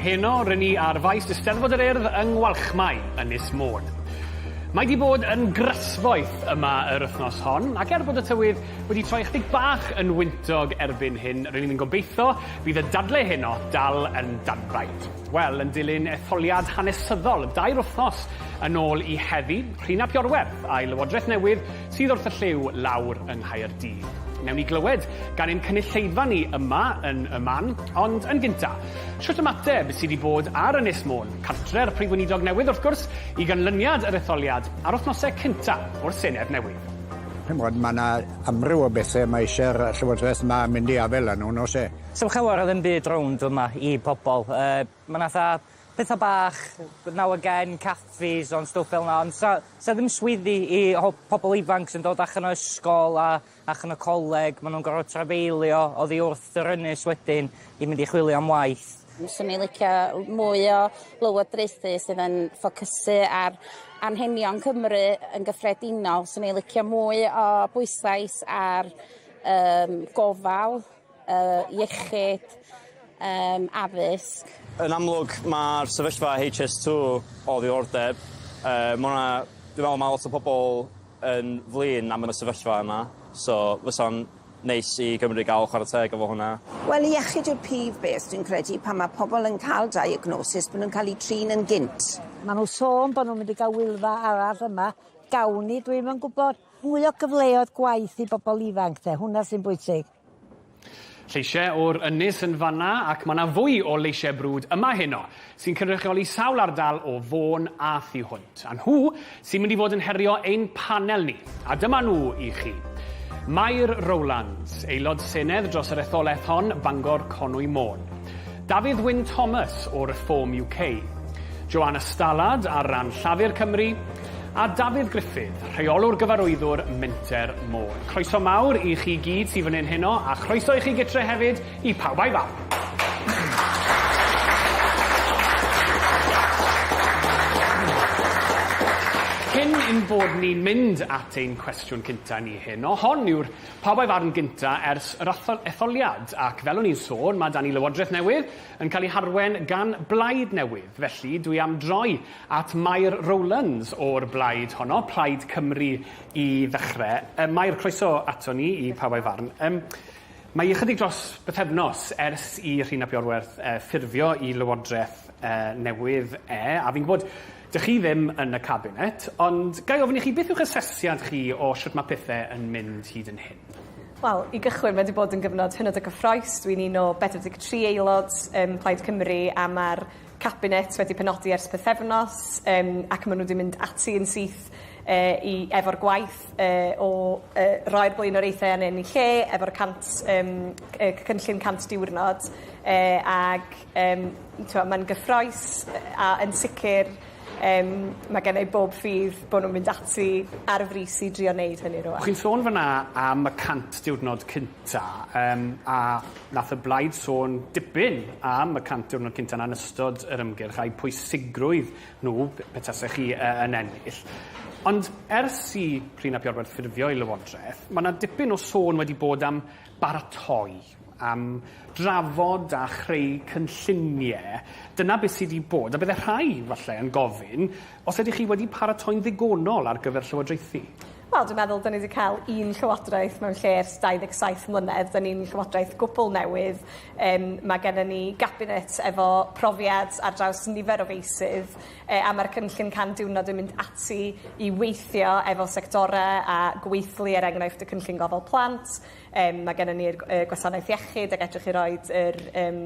Heno, rŷn ni ar faes Eisteddfod yr Urdd yng Ngwalchmai, Ynys Môn. Mae 'di bod yn grasboeth yma yr wythnos hon, ac er bod y tywydd wedi troi ychydig bach yn wyntog erbyn hyn, rŷn ni'n gobeitho bydd y dadle heno dal yn danbaid. Wel, yn dilyn etholiad hanesyddol dair wythnos yn ôl i heddi, rhîn ap Iorwerth a'i lywodraeth newydd sydd wrth y llyw lawr yng Nghaerdydd. Newn ni glywed gan ein cynulleidfa ni yma yn y man, ond yn gynta', shwt ymateb sydd 'di bod ar Ynys Môn, cartre'r Prif Weinidog newydd wrth gwrs, i ganlyniad yr etholiad ar wythnose cynta' o'r Senedd newydd? Ch'mod, ma' 'na amryw o bethe ma' isie'r Llywodraeth 'ma mynd i afael â nhw, yn o's e? Sdim llawer o ddim byd rownd fy' 'ma i pobol. Yy ma' 'na fatha Petha bach yy now again caffis on' stwff fel 'na ond sa sa ddim swyddi i ho- pobol ifanc sy'n dod allan o ysgol a allan o coleg ma' nw'n gor'o' trafeilio oddi wrth yr ynys wedyn i mynd i chwilio am waith. Fyswn i'n licio mwy o lywodraethu sydd yn ffocysu ar anghenion Cymru yn gyffredinol. Swn i'n licio mwy o bwyslais ar yym gofal yy iechyd, yym addysg. Yn amlwg ma'r sefyllfa Haitch Ess Two o ddiddordeb yy ma' 'na dwi me'wl ma' lot o pobol yn flin am y sefyllfa yma so fysa'n neis i Gymru ga'l chwara teg efo hwnna. Wel iechyd yw'r prif beth dwi'n credu pan ma' pobol yn ca'l diagnosis bo' nw'n ca'l 'u trin yn gynt. Ma' n'w sôn bo' n'w mynd i ga'l Wylfa arall yma, gawn ni dwi'm yn gwbod. Mwy o gyfleoedd gwaith i bobol ifanc 'de, hwnna sy'n bwysig. Lleisiau o'r ynys yn fan'na ac mae 'na fwy o leisiau brwd yma heno, sy'n cynrychioli sawl ardal o Fôn a thu hwnt. A nhw sy'n mynd i fod yn herio ein panel ni. A dyma nhw i chi. Mair Rowlands, Aelod Senedd dros yr etholaeth hon, Bangor Conwy Môn. Dafydd Wyn Thomas o Reform UK, Joanna Stallard ar ran Llafur Cymru, a Dafydd Griffith, Rheolwr Gyfarwyddwr Menter Môn. Croeso mawr i chi gyd sydd fan hyn heno, a chroeso i chi gytre hefyd i Pawb a'i Fam. Cyn ein bod ni'n mynd at ein cwestiwn cynta ni heno, hon yw'r Pawb a'i farn gynta ers yr etholiad, ac fel o'n i'n sôn, ma' 'da ni Lywodraeth newydd yn cael ei harwen gan blaid newydd, felly dwi am droi at Mair Rowlands o'r blaid honno, Plaid Cymru i ddechrau. Yy Mair, croeso ato ni i Pawb a'i farn. Yym mae ychydig dros bythefnos ers i Rhun ap Iorwerth yy ffurfio i Lywodraeth yy newydd e, a fi'n gwybod Dych chi ddim yn y Cabinet, ond ga i ofyn i chi beth yw'ch asesiad chi o shwt mae pethe yn mynd hyd yn hyn? Wel, i gychwyn, mae 'di bod yn gyfnod hynod o gyffrous. Dwi'n un o 43 aelod ym Mhlaid Cymru a ma'r Cabinet wedi penodi ers pythefnos yym ac ma' nw 'di mynd ati yn syth yy i efo'r gwaith yy o yy roi'r blaenoriaethau yn eu lle efo'r cant yym c- yy cynllun cant diwrnod yy ag Yym t'mo' ma'n gyffrous a yn sicir yym ma' genna' i bob ffydd bo' nw'n mynd ati ar y frys i drio neud hynny rŵan. Chi'n sôn fan 'na am y 100 diwrnod cynta' yym a nath y blaid sôn dipyn am y 100 diwrnod cynta' 'na yn ystod yr ymgyrch a'u pwysigrwydd nhw p- pe tasech chi yy yn ennill ond ers i Rhun ap Iorwerth ffurfio'i lywodraeth ma' 'na dipyn o sôn wedi bod am baratoi am drafod a chreu cynllunie, dyna beth sy' 'di bod, a bydde rhai, falle, yn gofyn, os ydych chi wedi paratoi'n ddigonol ar gyfer llywodraethu? Wel, dwi'n meddwl 'dyn ni 'di ca'l un llywodraeth mewn lle ers 27 mlynedd, 'dyn ni'n llywodraeth gwbwl newydd, yym ma' gennon ni gabinet efo profiad ar draws nifer o feysydd, yy a ma'r cynllun 100 diwrnod yn mynd ati i weithio efo sectore a gweithlu, er enghraifft, y cynllun gofal plant, Yym mae gennon ni'r yy gwasanaeth iechyd ag edrych i roid yr yym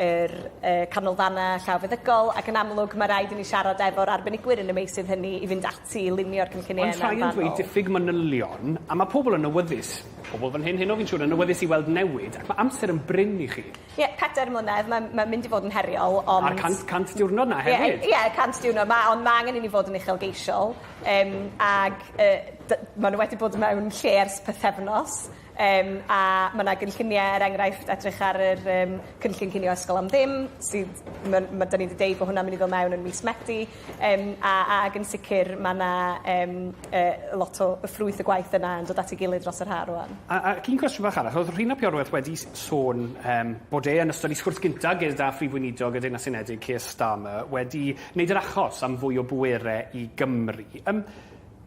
yr yy canolfana llaw feddygol ac yn amlwg ma' raid i ni siarad efo'r arbenigwyr yn y meysydd hynny i fynd ati i lunio'r cynllunie yna yn fanwl. Ond rhai yn dweud diffyg manylion a ma' pobl yn awyddus, pobl fan hyn heno fi'n siŵr, yn awyddus i weld newid ac ma' amser yn brin i chi. Ie, pedair mlynedd, mae'n mae'n mynd i fod yn heriol, ond... A'r cant, cant diwrnod 'na hefyd! Ie, ie, y cant diwrnod 'ma, ond mae angen i ni fod yn uchelgeisiol, um, ac uh, d- maen nhw wedi bod mewn lle ers pythefnos, um, a mae yna gynlluniau, er enghraifft, edrych ar yr um, cynllun cinio ysgol am ddim, sydd, mae, mae, da ni wedi deud bod hwnna'n mynd i ddod mewn yn mis Medi, Yym a a ag yn sicr ma' 'na yym yy lot o y ffrwyth y gwaith yna yn dod at ei gilydd dros yr ha' rŵan. A ac un cwestiwn fach arall, o'dd Rhun ap Iorwerth wedi s- sôn yym bod e yn ystod 'i sgwrs gynta' gyda Phrif Weinidog y Deyrnas Unedig Keir Starmer wedi neud yr achos am fwy o bwere i Gymru. Yym.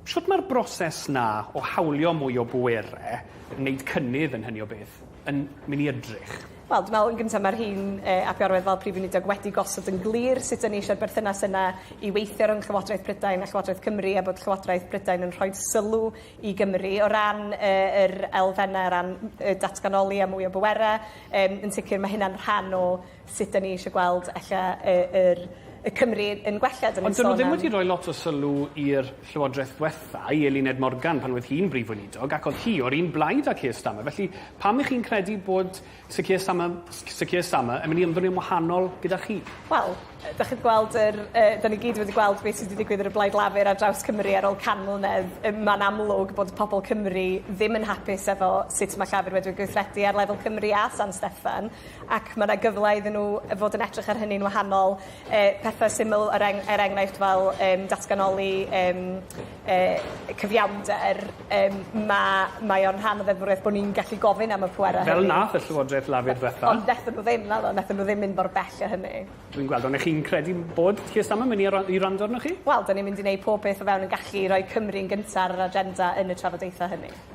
Shwt mae'r broses 'na o hawlio mwy o bwere, neud cynnydd yn hynny o beth, yn myn' i edrych? Wel, dwi me'wl yn gynta ma'r rhein yy ap Iorwerth fel Prif Weinidog wedi gosod yn glir sut 'yn ni eisiau'r berthynas yna i weithio rhwng Llywodraeth Prydain a Llywodraeth Cymru a bod Llywodraeth Prydain yn rhoid sylw i Gymru o ran yy yr elfenne o ran m- yy datganoli a mwy o bwera. Yym yn sicir ma' hynna'n rhan o sut 'da ni eisiau gweld ella y yr y Cymru yn gwella 'da ni'n sôn am... Ond 'dyn nhw ddim wedi rhoi lot o sylw i'r Llywodraeth ddwetha, i Eluned Morgan pan oedd hi'n Brif Weinidog, ac oedd hi o'r un blaid â Keir Starmer, felly pam 'ych chi'n credu bod Sir Keir Starmer Sir Keir Starmer yn mynd i ymddoni'n wahanol gyda chi? Wel, 'da chi wedi gweld yr yy 'da ni gyd wedi gweld beth sy wedi digwydd ar y Blaid Lafur ar draws Cymru ar ôl can mlynedd, yym ma'n amlwg bod pobol Cymru ddim yn hapus efo sut ma' Llafur wedi gweithredu ar lefel Cymru a San Steffan. ac ma' 'na gyfle iddyn n'w yy fod yn edrych ar hynny'n wahanol yy pethe syml er eng- er enghraifft fel yym datganoli yym yy cyfiawnder yym ma' mae o'n rhan o ddeddfwrieth bo' ni'n gallu gofyn am y pwera hynny. Fel nath y Llywodraeth Lafur ddwetha. Ond nethon nw ddim naddo nethon nw ddim mynd mor bell â hynny. Dwi'n gweld on' 'ych chi'n credu bod Keir Starmer myn' i yra- i wrando arnoch chi? Wel 'dan ni'n mynd i neud pob peth o fewn 'yn gallu i roi Cymru'n gynta ar yr agenda yn y trafodaethe hynny.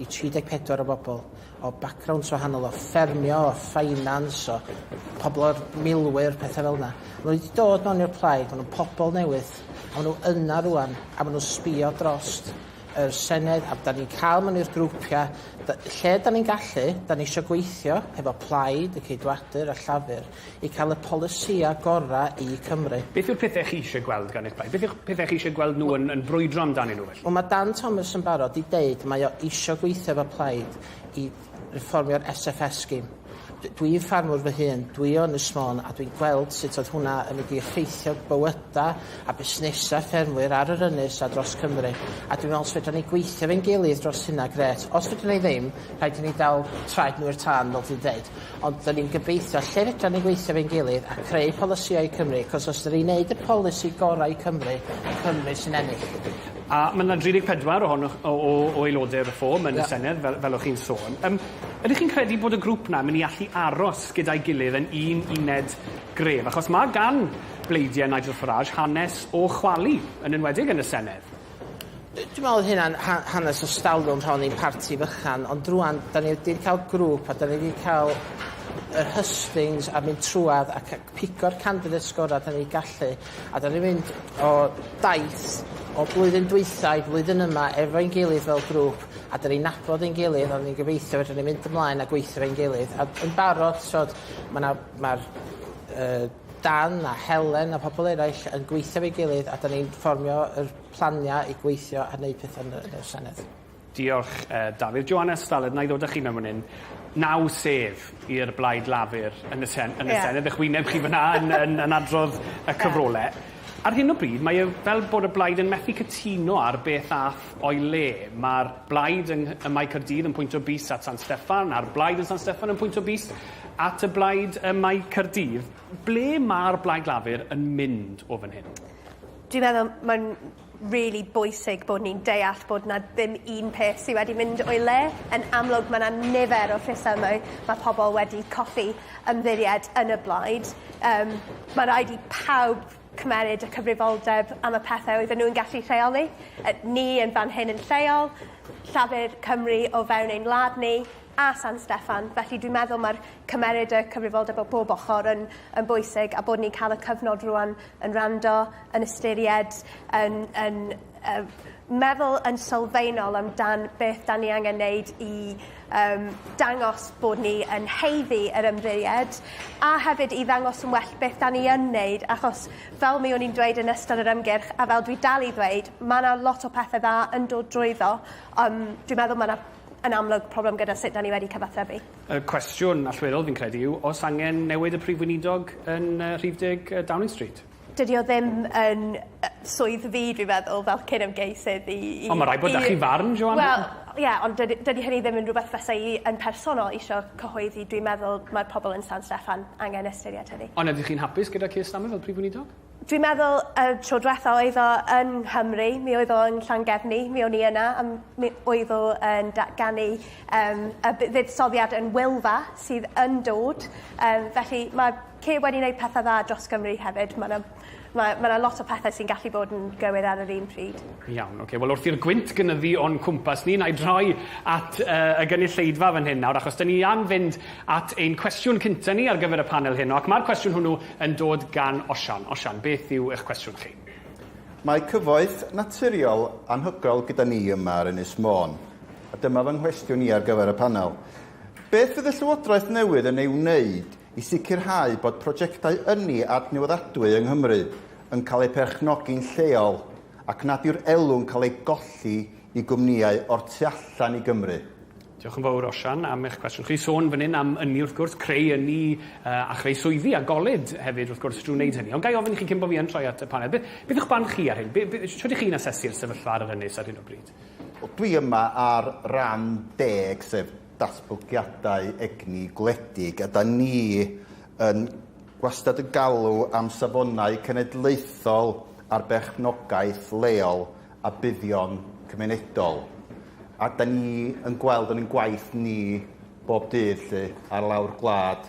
i 34 o bobl o backgrounds wahanol, o ffermio, o ffeinans, o pobl o'r milwyr, pethau fel yna. Maen nhw wedi dod mewn i'r plaid, maen nhw'n pobl newydd, a maen nhw yna rwan, a maen nhw'n sbio drost yr Senedd, a da ni'n cael mewn i'r grwpiau, da, lle da ni'n gallu, da ni eisiau gweithio hefo plaid, y ceidwadur a llafur, i cael y polisïau gorau i Cymru. Beth yw'r pethau chi eisiau gweld gan eich plaid? Beth yw'ch pethau chi eisiau gweld nhw yn, yn brwydro amdanyn nhw felly? Wel mae Dan Thomas yn barod i deud mae o eisiau gweithio efo plaid i refformio'r SFS scheme. D dwi'n ffarmwr fy hun, dwi o Ynys Môn a dwi'n gweld sut oedd hwnna yn mynd i effeithio bywydau a busnesau ffermwyr ar yr ynys a dros Cymru. A dwi'n meddwl os fedrwn ni gweithio efo'n gilydd dros hynna, grêt. Os fedrwn ni ddim, rhaid i ni dal traed nhw i'r tân fel dwi'n deud. Ond dan ni'n gobeithio lle fedran ni weithio efo'n gilydd a creu polisïau i Cymru, achos os dan ni'n neud y polisi gorau i Cymru, Cymru sy'n ennill. A ma' 'na 34 ohonoch o o o aelode Reform yn y Senedd fel fel o'ch chi'n sôn. Yym ydych chi'n credu bod y grŵp 'na myn' i allu aros gyda'i gilydd yn un uned gref? Achos ma' gan bleidiau Nigel Farage hanes o chwalu, yn enwedig yn y Senedd. Dwi'n meddwl oedd hynna'n hanes o stalwm rhan i'n parti fychan, ond rwan, da ni wedi cael grŵp a da ni wedi cael yr hustings a mynd trwad ac pigo'r candidates sgorau da ni gallu, a da ni'n mynd o daith o blwyddyn dwytha i flwyddyn yma efo'n gilydd fel grŵp, a da ni'n nabod ein gilydd, a ni'n gobeithio fedrwn ni mynd ymlaen a gweithio fe'n gilydd, a yn barod, mae'r uh, Dan a Helen a phobl eraill yn gweithio efo'i gilydd a 'dan ni'n fformio yr planiau i gweithio a neud petha yn y y Senedd. Diolch, Dafydd. Johannes Stallard, wna i ddod â chi mewn fan hyn. Naw sedd i'r Blaid Lafur yn y Sen- yn y Senedd. Ych wyneb chi fan'na yn yn yn adrodd y cyfrole. Ar hyn o bryd mae e fel bod y Blaid yn methu cytuno ar beth a'th o'i le. Ma'r Blaid yng ym Mae Caerdydd yn pwynto bys at San Steffan, a'r Blaid yn San Steffan yn pwynto bys At y blaid ym Mae Caerdydd. Ble mae'r Blaid Lafur yn mynd o fan hyn? Dwi'n meddwl mae'n rili bwysig bod ni'n deall bod 'na ddim un peth sy wedi mynd o'i le. Yn amlwg ma' 'na nifer o rhesymau ma' pobol wedi colli ymddiried yn y blaid yym ma' raid i pawb cymeryd y cyfrifoldeb am y pethe oedden nhw'n gallu rheoli yy ni yn fan hyn yn lleol, Llafur Cymru o fewn ein wlad ni, a San Steffan, felly dwi'n meddwl mae'r cymeryd y cyfrifoldeb o bob ochr yn yn bwysig a bod ni'n cael y cyfnod rwan yn rando, yn ystyried, yn, yn uh, meddwl yn sylfaenol amdan beth da ni angen wneud i um, dangos bod ni yn heiddi yr ymddeiried a hefyd i ddangos yn well beth da ni yn wneud achos fel mi o'n i'n dweud yn ystod yr ymgyrch a fel dwi dal i ddweud mae yna lot o pethau dda yn dod drwyddo um, dwi'n meddwl mae yna yn amlwg problem gyda sut 'da ni wedi cyfathrebu. Y cwestiwn allweddol fi'n credu yw o's angen newid y Prif Weinidog yn yy rhif deg yy Downing Street? Dydi o ddim yn yy swydd fi dwi feddwl fel cyd-ymgeisydd i i... Ond ma' raid bod 'da chi farn Joana. Wel ie ond dydi dydi hynny ddim yn rwbeth fysai i yn personol isio cyhoeddi dwi'n meddwl ma'r pobol yn San Steffan angen ystyried hynny. Ond ydych chi'n hapus gyda Keir Starmer fel Prif Weinidog? Dwi'n meddwl y tro dwetha oedd o yn Nghymru mi oedd o yn Llangefni mi o'n i yna a m- mi oedd o yn datganu yym y bu- fuddsoddiad yn Wylfa sydd yn dod yym felly ma' Kay wedi neud pethe dda dros Gymru hefyd ma' 'na ma' ma' 'na lot o pethe sy'n gallu bod yn gywir ar yr un pryd. Iawn oce wel wrth i'r gwynt gynyddu o'n cwmpas ni 'nai droi at yy y gynulleidfa fan hyn nawr achos 'dyn ni am fynd at ein cwestiwn cynta ni ar gyfer y panel heno ac ma'r cwestiwn hwnnw Yn dod gan Osian. Osian, beth yw eich cwestiwn chi? Mae cyfoeth naturiol anhygoel gyda ni yma ar Ynys Môn, a dyma fy nghwestiwn i ar gyfer y panel. Beth fydd y Llywodraeth newydd yn ei wneud i sicrhau bod prosiectau ynni adnewyddadwy yng Nghymru yn cael eu perchnogi'n lleol ac nad yw'r elw'n cael ei golli i gwmnïau o'r tu allan i Gymru? Diolch yn fawr Osian am eich cwestiwn chi. Sôn fan hyn am ynni wrth gwrs, creu ynni uh, a chreu swyddi a goled hefyd wrth gwrs drwy wneud hynny. Ond ga i ofyn i chi cyn bod fi yn troi at y panel, beth, beth yw'ch barn chi ar hyn? Be, be, sut ydych chi'n asesu'r sefyllfa ar yr ynys ar hyn o bryd? Dwi yma ar ran deg sef datblygiadau egni gwledig a da ni yn gwastad yn galw am safonau cenedlaethol ar berchnogaeth leol a buddion cymunedol. A da ni yn gweld yn ein gwaith ni bob dydd lle ar lawr gwlad.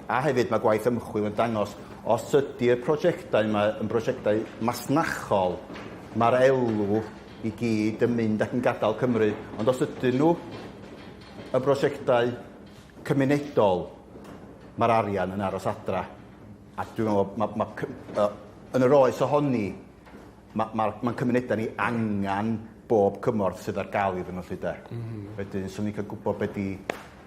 A hefyd mae gwaith ymchwil yn dangos os ydy'r prosiectau yma yn brosiectau masnachol, mae'r elw i gyd yn mynd ac yn gadael Cymru. Ond os ydyn nhw yn brosiectau cymunedol, mae'r arian yn aros adra. A dwi'n meddwl, mae, mae, yn yr oes ohoni, ma' ma'r ma'n cymuneda ni angan bob cymorth sydd ar ga'l iddyn nhw 'lly 'de? M-hm. Wedyn swn i'n ca'l gwbod be' 'di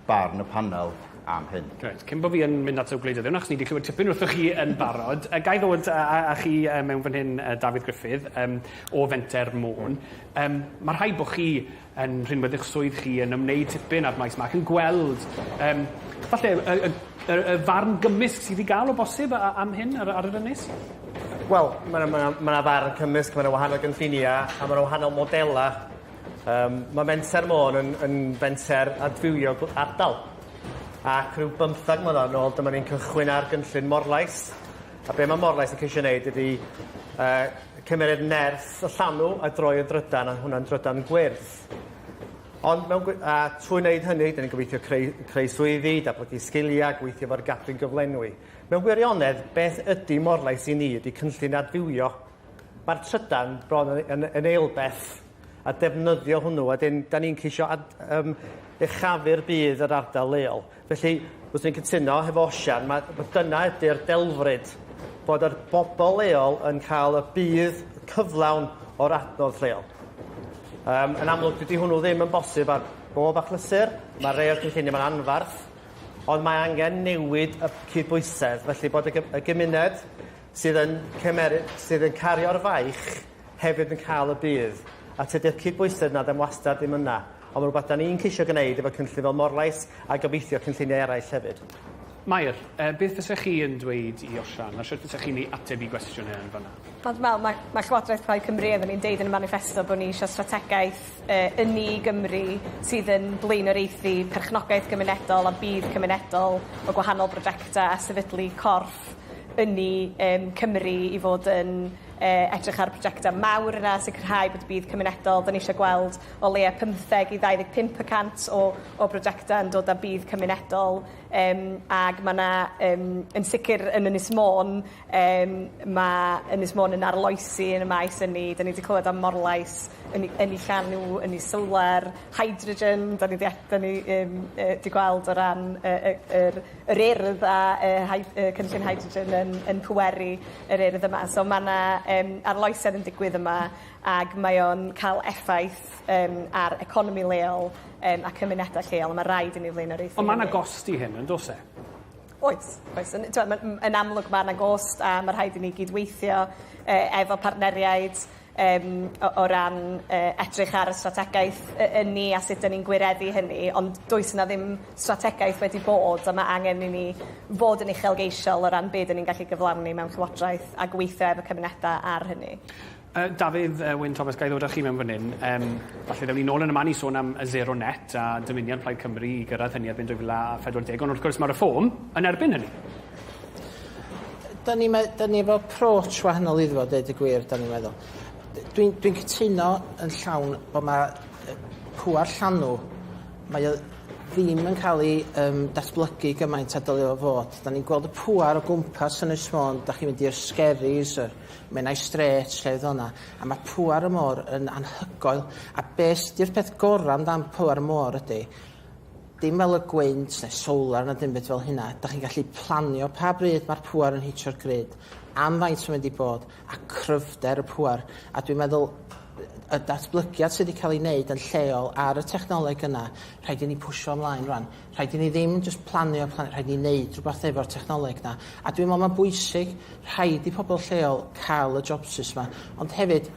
barn y panel am hyn. Reit, cyn bo fi yn mynd at y gwleidyddion achos ni 'di clywed tipyn wrthoch chi yn barod yy gai ddod a a a chi yy mewn fan hyn yy Dafydd Gruffydd yym o Fenter Môn. Yym ma' rhaid bo' chi yn rhinwedd eich swydd chi, yn ymwneud tipyn â'r maes 'ma ac yn gweld yym falle y y y y farn gymysg sydd i ga'l o bosib a- a- am hyn ar y ar yr ynys? Wel ma' 'na ma' 'na ma' 'na farn cymysg ma' 'na wahanol gynllunia a ma' 'na wahanol modela yym ma' Menter Môn yn yn fenter adfywio gw- ardal ac rhyw bymthag mlynadd nôl dyma ni'n cychwyn ar gynllun Morlais A be mae Morlais yn ceisio wneud ydy uh, cymeriad nerth y llanw a droi yn drydan, a hwnna'n drydan gwyrdd. Ond mewn, a trwy wneud hynny, dyn ni'n gobeithio creu, creu swyddi, datblygu sgiliau, gweithio fo'r gadwyn gyflenwi. Mewn gwirionedd, beth ydy Morlais i ni ydy cynllun adfywio. Mae'r trydan bron yn, yn, yn eilbeth a defnyddio hwnnw, a dyn, da ni'n ceisio ad, um, echafu'r bydd yr ardal leol. Felly, fyswn i'n cytuno hefo Osian, ma', ma' dyna ydy'r delfryd, bod yr bobl leol yn cael y budd cyflawn o'r adnodd lleol. Um, yn amlwg, dydy hwnnw ddim yn bosib ar bob achlysur, mae rhai o'r cynlluniau mae'n anfarth, ond mae angen newid y cydbwysedd, felly bod y gymuned sydd yn, cymer, sydd yn cario'r faich hefyd yn cael y budd, a tydi'r cydbwysedd 'na ddim wastad ddim yna, ond mae'n rhywbeth 'da ni'n ceisio gwneud efo cynllun fel Morlais a gobeithio cynlluniau eraill hefyd. Mair, yy beth fysa chi yn dweud i Osian, a shwt fysa chi'n ei ateb i gwestiwn e yn fanna? Wel, dwi me'wl ma' ma' Llywodraeth Plaid Cymru oeddwn i'n deud yn y maniffesto bo' ni isio strategaeth yy ynni i Gymru sydd yn blaenoriaethu perchnogaeth gymunedol a budd cymunedol o gwahanol brojecte a sefydlu corff ynni yym Cymru i fod yn edrych ar y projectau mawr yna, sicrhau bod y budd cymunedol, dan ni eisiau gweld o leiaf 15 i 25 y cant o, o brojectau yn dod â budd cymunedol, um, ac mae yna, um, yn sicr yn Ynys Môn, um, mae Ynys Môn yn arloesi yn y maes ynni, da ni wedi clywed am morlais, ynni, ynni llanw, ynni solar, hydrogen, da ni wedi, da ni um, uh, wedi gweld o ran y, y, y, yr Urdd a yy cynllun hydrogen yn yn pweru yr Urdd yma so ma' 'na yym arloesedd yn digwydd yma ag mae o'n ca'l effaith yym ar economi leol yym a cymuneda lleol a ma' raid i ni flaenoriaethu hynny. Ond ma' 'na gost i hyn yndos e? Oes oes yn t'mo' ma' m- yn amlwg ma' 'na gost a ma' rhaid i ni gyd-weithio yy efo partneriaid yym o o ran yy edrych ar y strategaeth y- ynni a sut 'dyn ni'n gwireddu hynny ond does 'na ddim strategaeth wedi bod a ma' angen i ni fod yn uchelgeisiol o ran be' 'dyn ni'n gallu gyflawni mewn llywodraeth a gweithio efo cymuneda ar hynny. Yy Dafydd yy Wyn Thomas ga'i ddod â chi mewn fan 'yn yym falle ddewn ni nôl yn y man i sôn am y sero net a dymuniad Plaid Cymru i gyrraedd hynny erbyn 2040 ond wrth gwrs ma' Reform yn erbyn hynny. Da ni mae da ni efo approach wahanol iddo fo deud y gwir da ni'n meddwl. Dwi'n dwi'n cytuno yn llawn bod ma' yy pŵar llanw mae o ddim yn ca'l 'i yym datblygu gymaint a dylio fo fod. Da ni'n gweld y pŵar o gwmpas Ynys Môn, dach chi'n mynd i'r Skerries yr Menai Strait lle oedd honna a ma' pŵar y môr yn anhygoel a be' sy 'di'r peth gora' amdan pŵar y môr ydi Dim fel y gwynt neu solar na dim byd fel hynna, dach chi'n gallu planio pa bryd mae'r pŵer yn hitio'r grid, am faint mae'n mynd i bod, a cryfder y pŵer, a dwi'n meddwl y datblygiad sydd wedi cael ei wneud yn lleol ar y technoleg yna, rhaid i ni pwsio ymlaen rwan. Rhaid i ni ddim jyst planio, planio, rhaid i ni wneud rhywbeth efo'r technoleg yna. A dwi'n meddwl mae'n bwysig, rhaid i pobl lleol cael y jobsus yma, ond hefyd,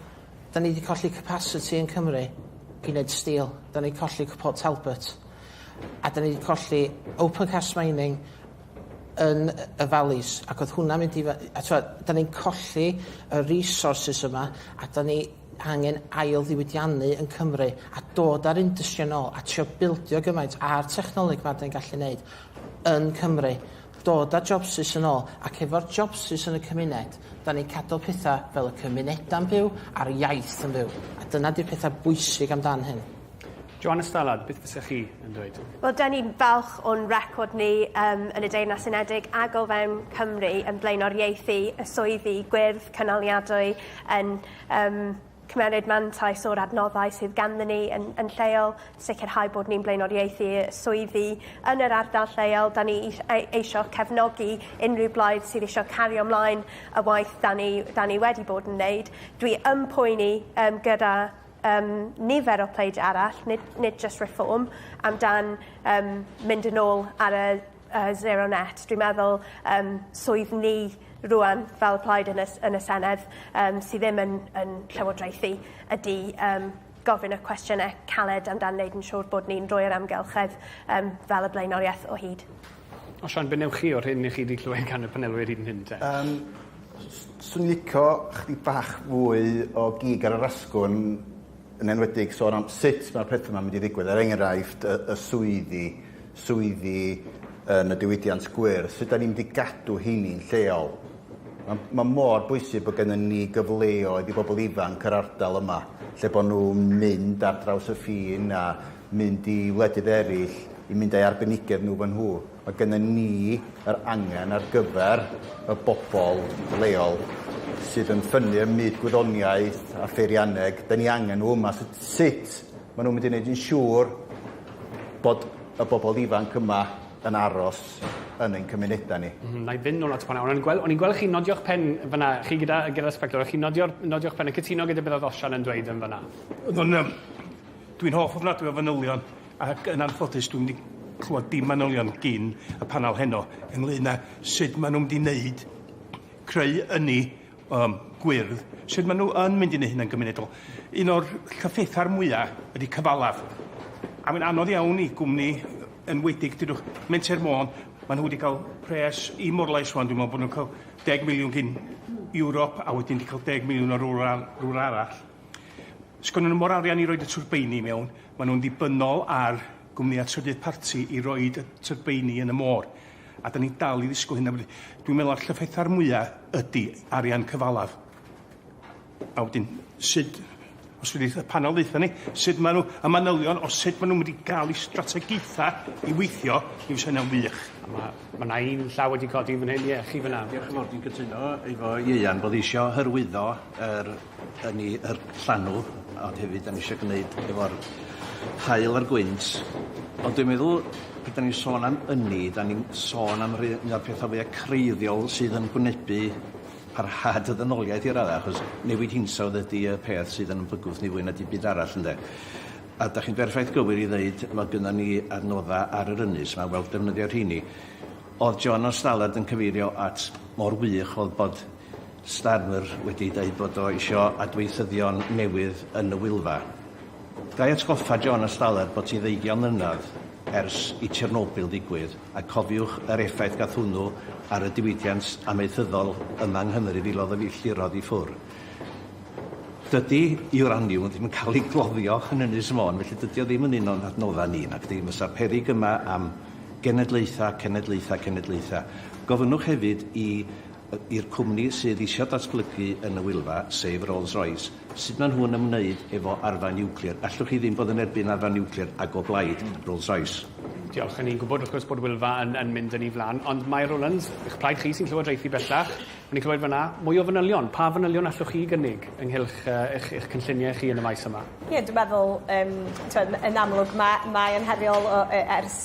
Da ni di colli capasiti yn Cymru i neud steel. Da ni colli Port Talbot. A da ni di colli open cast mining yn y valleys. Ac oedd hwnna mynd i... A t'mod, da ni'n colli y resources yma a da ni angen ail ddiwydiannu yn Cymru a dod a'r industry yn ôl a trio bildio gymaint a'r technoleg ma da ni'n gallu neud yn Cymru. Dod â jobsus yn ôl, ac efo'r jobsus yn y cymuned, dan ni'n cadw pethau fel y cymunedau'n byw a'r iaith yn fyw, a dyna 'di'r pethau bwysig amdan hyn. Joanna Stallard, beth fysa chi yn dweud? Wel, dan ni'n falch o'n record ni um, yn y Deyrnas Unedig ac o fewn Cymru yn blaenoriaethu y swyddi gwyrdd cynaliadwy yn um, Cymmeryd mantais o'r adnoddau sydd ganddyn ni yn yn lleol, sicrhau bod ni'n blaenoriaethu y swyddi yn yr ardal lleol. 'Dan ni is- ei- eisio cefnogi unrhyw blaid sydd isio cario mlaen y waith 'dan ni 'dan ni wedi bod yn neud. Dwi yn poeni yym gyda yym nifer o pleid arall, nid nid jyst Reform, amdan yym mynd yn ôl ar y yy zero net dwi'n meddwl yym swydd ni rŵan fel plaid yn y s- yn y Senedd yym sy ddim yn yn llywodraethu ydi yym gofyn y cwestiyne caled amdan neud yn siŵr bod ni'n rhoi'r amgylchedd yym fel y blaenorieth o hyd. Osian be' newch chi o'r hyn 'ych chi 'di clywed gan y panelwyr hyd yn hyn te? Yym s- s- swn lico chydig bach fwy o gig ar yr asgwrn yn enwedig sôn am sut mae'r pethau yma'n mynd i ddigwydd, er enghraifft y, y swyddi, swyddi yn y diwydiant gwyrdd, sut da ni'n mynd i gadw heini'n lleol. Mae, mae mor bwysig bod gennym ni gyfleoedd i bobl ifanc yr ardal yma, lle bod nhw'n mynd ar draws y ffin a mynd i wledydd eraill i mynd â'i arbenigedd nhw fan nhw. Mae gennym ni yr angen ar gyfer y bobl leol sydd yn ffynnu ym myd gwyddoniaeth a pheirianneg. Da ni angen nhw yma. Sut, sut maen nhw'n mynd i wneud yn siŵr bod y bobl ifanc yma yn aros yn ein cymunedau ni? Mm, na i fynd nôl at fanna. O'n i'n gweld, o'n i'n gweld chi nodio'ch pen fanna, chi gyda, gyda spectol, o'ch chi'n nodio'r, nodio'ch pen yn cytuno gyda beth oedd Osian yn dweud yn fanna? Oedd o'n, um, dwi'n hoff ofnadwy o fanylion. Ac yn anffodus dwi'm di clwad dim manylion gin y panel heno ynglŷn â sud ma' nhw'n mynd i neud creu ynni yym gwyrdd, sud ma' nhw yn mynd i neu' hynna'n gymunedol. Un o'r llyffetha'r mwya ydi cyfalaf a mae'n anodd iawn i gwmni yy enwedig dudwch Menter Môn ma' nhw wedi ca'l pres i Morlais ŵan dwi'n me'wl bo' nhw'n ca'l deg miliwn gin Ewrop a wedyn di ca'l deg miliwn o rwla rwla arall. Sgynno nhw mo'r arian i roid y twrbeini i mewn. Maen nhw'n ddibynnol ar gwmnïau trydydd parti i roid y tyrbeini yn y môr, a 'dan ni'n dal i ddisgwyl hynna wedyn. Dwi'n meddwl na'r llyffetha'r mwya ydi arian cyfalaf. A wedyn, sud, os fedrith y panel ddaetho ni, sud maen nhw, y manylion o sud maen nhw'n mynd i gael eu strategaethau i weithio, mi fysa hynna'n wych. A ma', ma' 'na un llaw wedi codi fan hyn, ie, chi fan'na. Diolch yn fawr, dwi'n cytuno efo Ieuan bod isio hyrwyddo yr 'Dan ni yr llanw ond hefyd 'dan ni isio gneud efo'r haul a'r gwynt ond dwi'n meddwl pan 'dan ni'n sôn am ynni 'dan ni'n sôn am rei un o'r petha fwya creiddiol sydd yn gwynebu parhad y ddynoliaeth i radda achos newid hinsawdd ydi y peth sydd yn bygwth ni fwy na dim byd arall ynde? A 'dach chi'n berffaith gywir i ddeud ma' gynnon ni adnodda ar yr ynys 'ma fel defnyddio rheini. O'dd John o Stalard yn cyfeirio at mor wych o'dd bod Starmer wedi dweud bod o isio adweithyddion newydd yn y Wylfa. Ga i atgoffa John a Staler bod hi ddeugion mlynedd ers i Chernobyl ddigwydd a cofiwch yr effaith gath hwnnw ar y diwydiant amaethyddol yma yng Nghymru, filodd o filltirodd i ffwr. Dydy uraniwm ddim yn cael ei gloddio yn Ynys Môn felly dydy o ddim yn un o'n adnoddau ni, nacdi? Fysa peryg yma am genedlaethau, cenedlaethau, cenedlaethau. Gofynnwch hefyd i i'r cwmni sydd eisiau datblygu yn y Wylfa, sef Rolls-Royce, sut maen nhw'n ymwneud efo arfau niwclear? Allwch chi ddim bod yn erbyn arfau niwclear ac o blaid Rolls-Royce. Diolch. Yn ni'n gwybod wrth gwrs bod Wylfa yn yn mynd yn ei flan, ond mae Rowlands, eich plaid chi sy'n llywodraethu bellach, o'n i'n clywed fan'na, mwy o fanylion. Pa fanylion allwch chi gynnig ynghylch yy eich eich cynlluniau chi yn y maes yma? Ie, dwi'n meddwl yym t'mod yn amlwg ma' mae e'n heriol o yy ers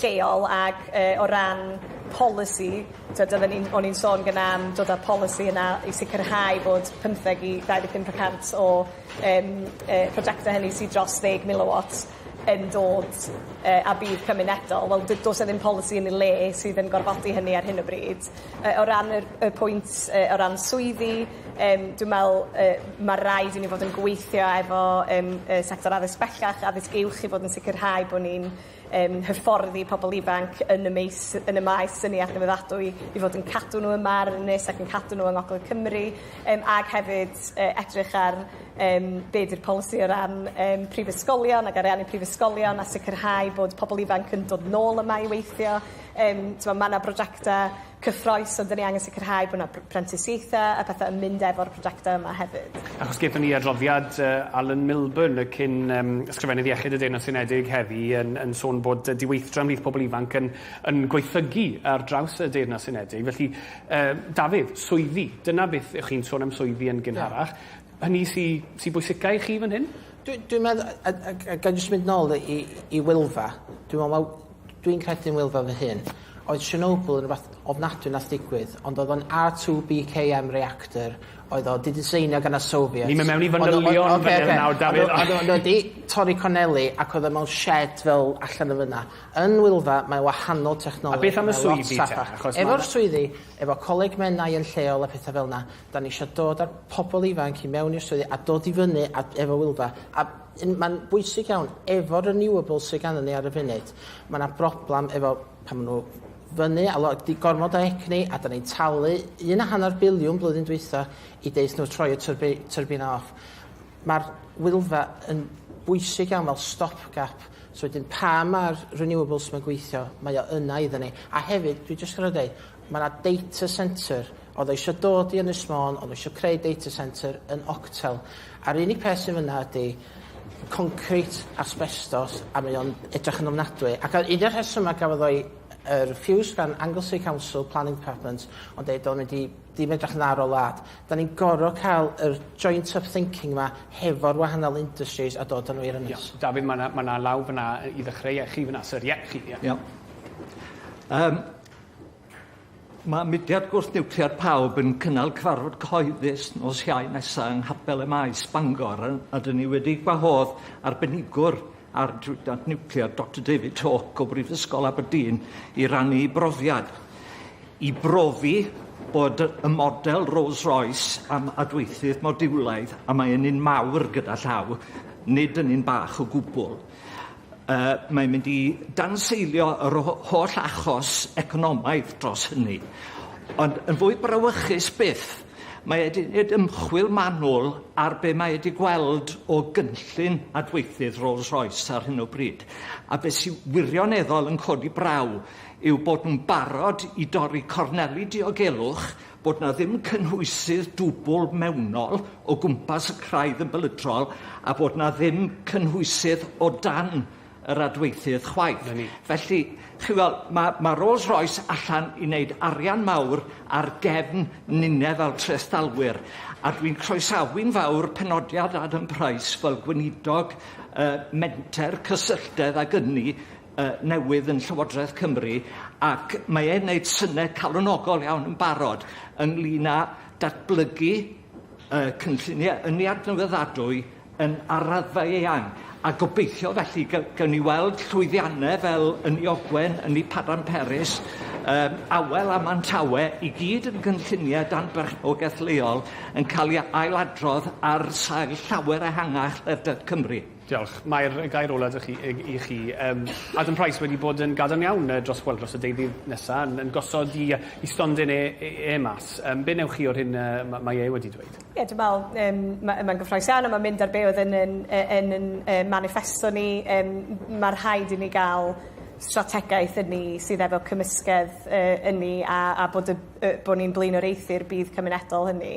lleol ac yy o ran polisi t'od odden ni'n o'n i'n sôn gynna' am dod â'r polisi yna i sicirhau bod pymtheg i dau ddeg pump y cant o yym yy projecte hynny sy dros ddeg miliwat yn dod yy a budd cymunedol wel d- do's 'na ddim polisi yn ei le sydd yn gorfodi hynny ar hyn o bryd. Yy o ran yr y pwynt yy o ran swyddi yym dwi me'wl yy ma' raid i ni fod yn gweithio efo yym y sector addysg bellach addysg uwch i fod yn sicirhau bo' ni'n yn hyfforddi pobl ifanc yn y meis- yn y maes ynni adnewyddadwy i fod yn cadw nhw yma ar yr ynys ac yn cadw nhw yng ngogledd Cymru yym ag hefyd yy edrych ar yym be' 'di'r polisi o ran yym prifysgolion ag ariannu prifysgolion a sicirhau bod pobl ifanc yn dod nôl yma i weithio yym t'mo' ma' 'na brojecte cyffrous ond 'da ni angen sicrhau bo' 'na pr- prentisiaethe a pethe yn mynd efo'r projecte yma hefyd. Achos gethon ni adroddiad yy Alan Milburn y cyn yym Ysgrifennydd Iechyd y Deyrnas Unedig heddi yn yn sôn bod yy diweithdra ymhlith pobl ifanc yn yn gwaethygu ar draws y Deyrnas Unedig felly yy Dafydd, swyddi, dyna beth y'ch chi'n sôn am swyddi yn gynharach. hynny sy sy bwysica i chi fan hyn? Dwi dwi'n meddwl a a a a ga'i jyst mynd nôl i i Wylfa. Dwi me'wl ma' dwi'n credu'n Wylfa fy hun oedd Chernobyl yn rwbath ofnadwy nath digwydd ond o'dd o'n Are Two Bee Kay Em reactor oedd o 'di diseinio gan y Soviets. Ni'm yn mewn i fanylion fan hyn nawr Dafydd. Ocê ocê. Ond o- ond o'dd o 'di torri corneli ac o'dd o mewn shed fel allan yn fyn 'na. Yn Wylfa mae wahanol technoleg... A beth am y swyddi te achos ma' 'na... Efo'r swyddi efo Coleg Menai yn lleol a petha fel 'na Dan ni isio dod â'r pobl ifanc i mewn i'r swyddi a dod i fyny a, efo Wylfa. A mae'n bwysig iawn, efo'r renewables sydd ganddyn ni ar y funud, mae yna broblem efo pan maen nhw fyny a lo, di gormod o egni a da ni'n talu un a hanner biliwn blwyddyn dwytha i deith nhw troi y tyrbi, tyrbina off. Mae'r Wylfa yn bwysig iawn fel stopgap So wedyn, pa mae'r renewables mae'n gweithio, mae o yna iddyn ni. A hefyd, dwi jyst gorau dweud, Mae yna data centre. Oedd o eisiau dod i Ynys Môn, oedd o eisiau creu data centre yn Octel. A'r unig peth sy'n fyna ydy concrete, asbestos, a mae o'n edrych yn ofnadwy. Ac un o'r rhesymau gafodd o'i uh, refused gan Anglesey Council Planning Department, ond dweud o'n mynd i ddim edrych yn dda ar o lad. Da ni'n gorfod cael yr joint up thinking yma hefo'r wahanol industries a dod â nhw i'r ynys. Yeah. David, mae yna ma law fyna i ddechreu chi fyna, sir. Ie, yeah, chi. Yeah. Yeah. Um, Mae mudiad gwrth-niwclear pawb yn cynnal cyfarfod cyhoeddus nos Iau nesaf yng Nghapel y Maes, Bangor, a ydyn ni wedi gwahodd arbenigwr ar diwydiant niwclear, Doctor David Hawke o Brifysgol Aberdeen, i rannu ei brofiad, i brofi bod y model Rolls-Royce am adweithydd modiwlaidd, a mae yn un mawr gyda llaw, nid yn un bach o gwbl. Uh, mae'n mynd i danseilio yr holl achos economaidd dros hynny. Ond yn fwy brawychus byth, mae wedi gwneud ymchwil manwl ar be mae wedi gweld o gynllun adweithydd Rolls-Royce ar hyn o bryd. A beth sy'n wirioneddol yn codi braw yw bod nhw'n barod i dorri corneli diogelwch bod 'na ddim cynhwysydd dwbl mewnol o gwmpas y craidd yn bylydrol a bod 'na ddim cynhwysydd o dan yr adweithydd chwaith. Felly, chi weld, mae, mae Rolls Royce allan i wneud arian mawr ar gefn ninnau fel trestalwyr, a dwi'n croesawi'n fawr penodiad Adam Price fel gweinidog uh, menter cysylltedd ag ynni yy newydd yn Llywodraeth Cymru ac mae e'n neud syne calonogol iawn yn barod ynglŷn â datblygu yy cynllunie ynni adnewyddadwy yn ar raddfa eang a gobeithio felly ga- gawn ni weld llwyddianne fel ynni Ogwen, ynni Padarn Peris yym Awel a Mantawe i gyd yn gynllunie dan berchnogaeth leol yn ca'l 'u ailadrodd ar sail llawer ehangach ledled Cymru. Diolch. Mae'r gair ola' 'da chi i i chi yym Adam Price wedi bod yn gadarn iawn yy dros wel dros y deuddydd nesa yn yn gosod 'i yy 'i stondin e e e mas. Yym be' newch chi o'r hyn yy ma' mae e wedi dweud? Ie dwi me'wl yym ma' yy mae'n gyffrous iawn a ma'n mynd ar be' oedd yn yn yy yn yn yy maniffesto ni yym m- ma' rhaid i ni ga'l strategaeth ynni sydd efo cymysgedd yy ynni a a bod y yy bo' ni'n blaenoriaethu'r budd cymunedol hynny.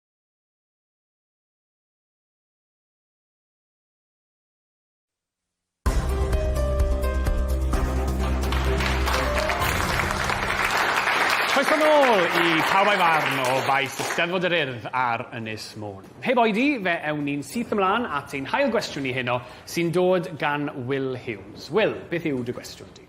Croeso nôl i Pawb a'i Farn o faes Eisteddfod yr Urdd ar Ynys Môn. Heb oedi, fe ewn ni'n syth ymlaen at ein hail gwestiwn ni heno, sy'n dod gan Will Hughes. Will, beth yw dy gwestiwn di?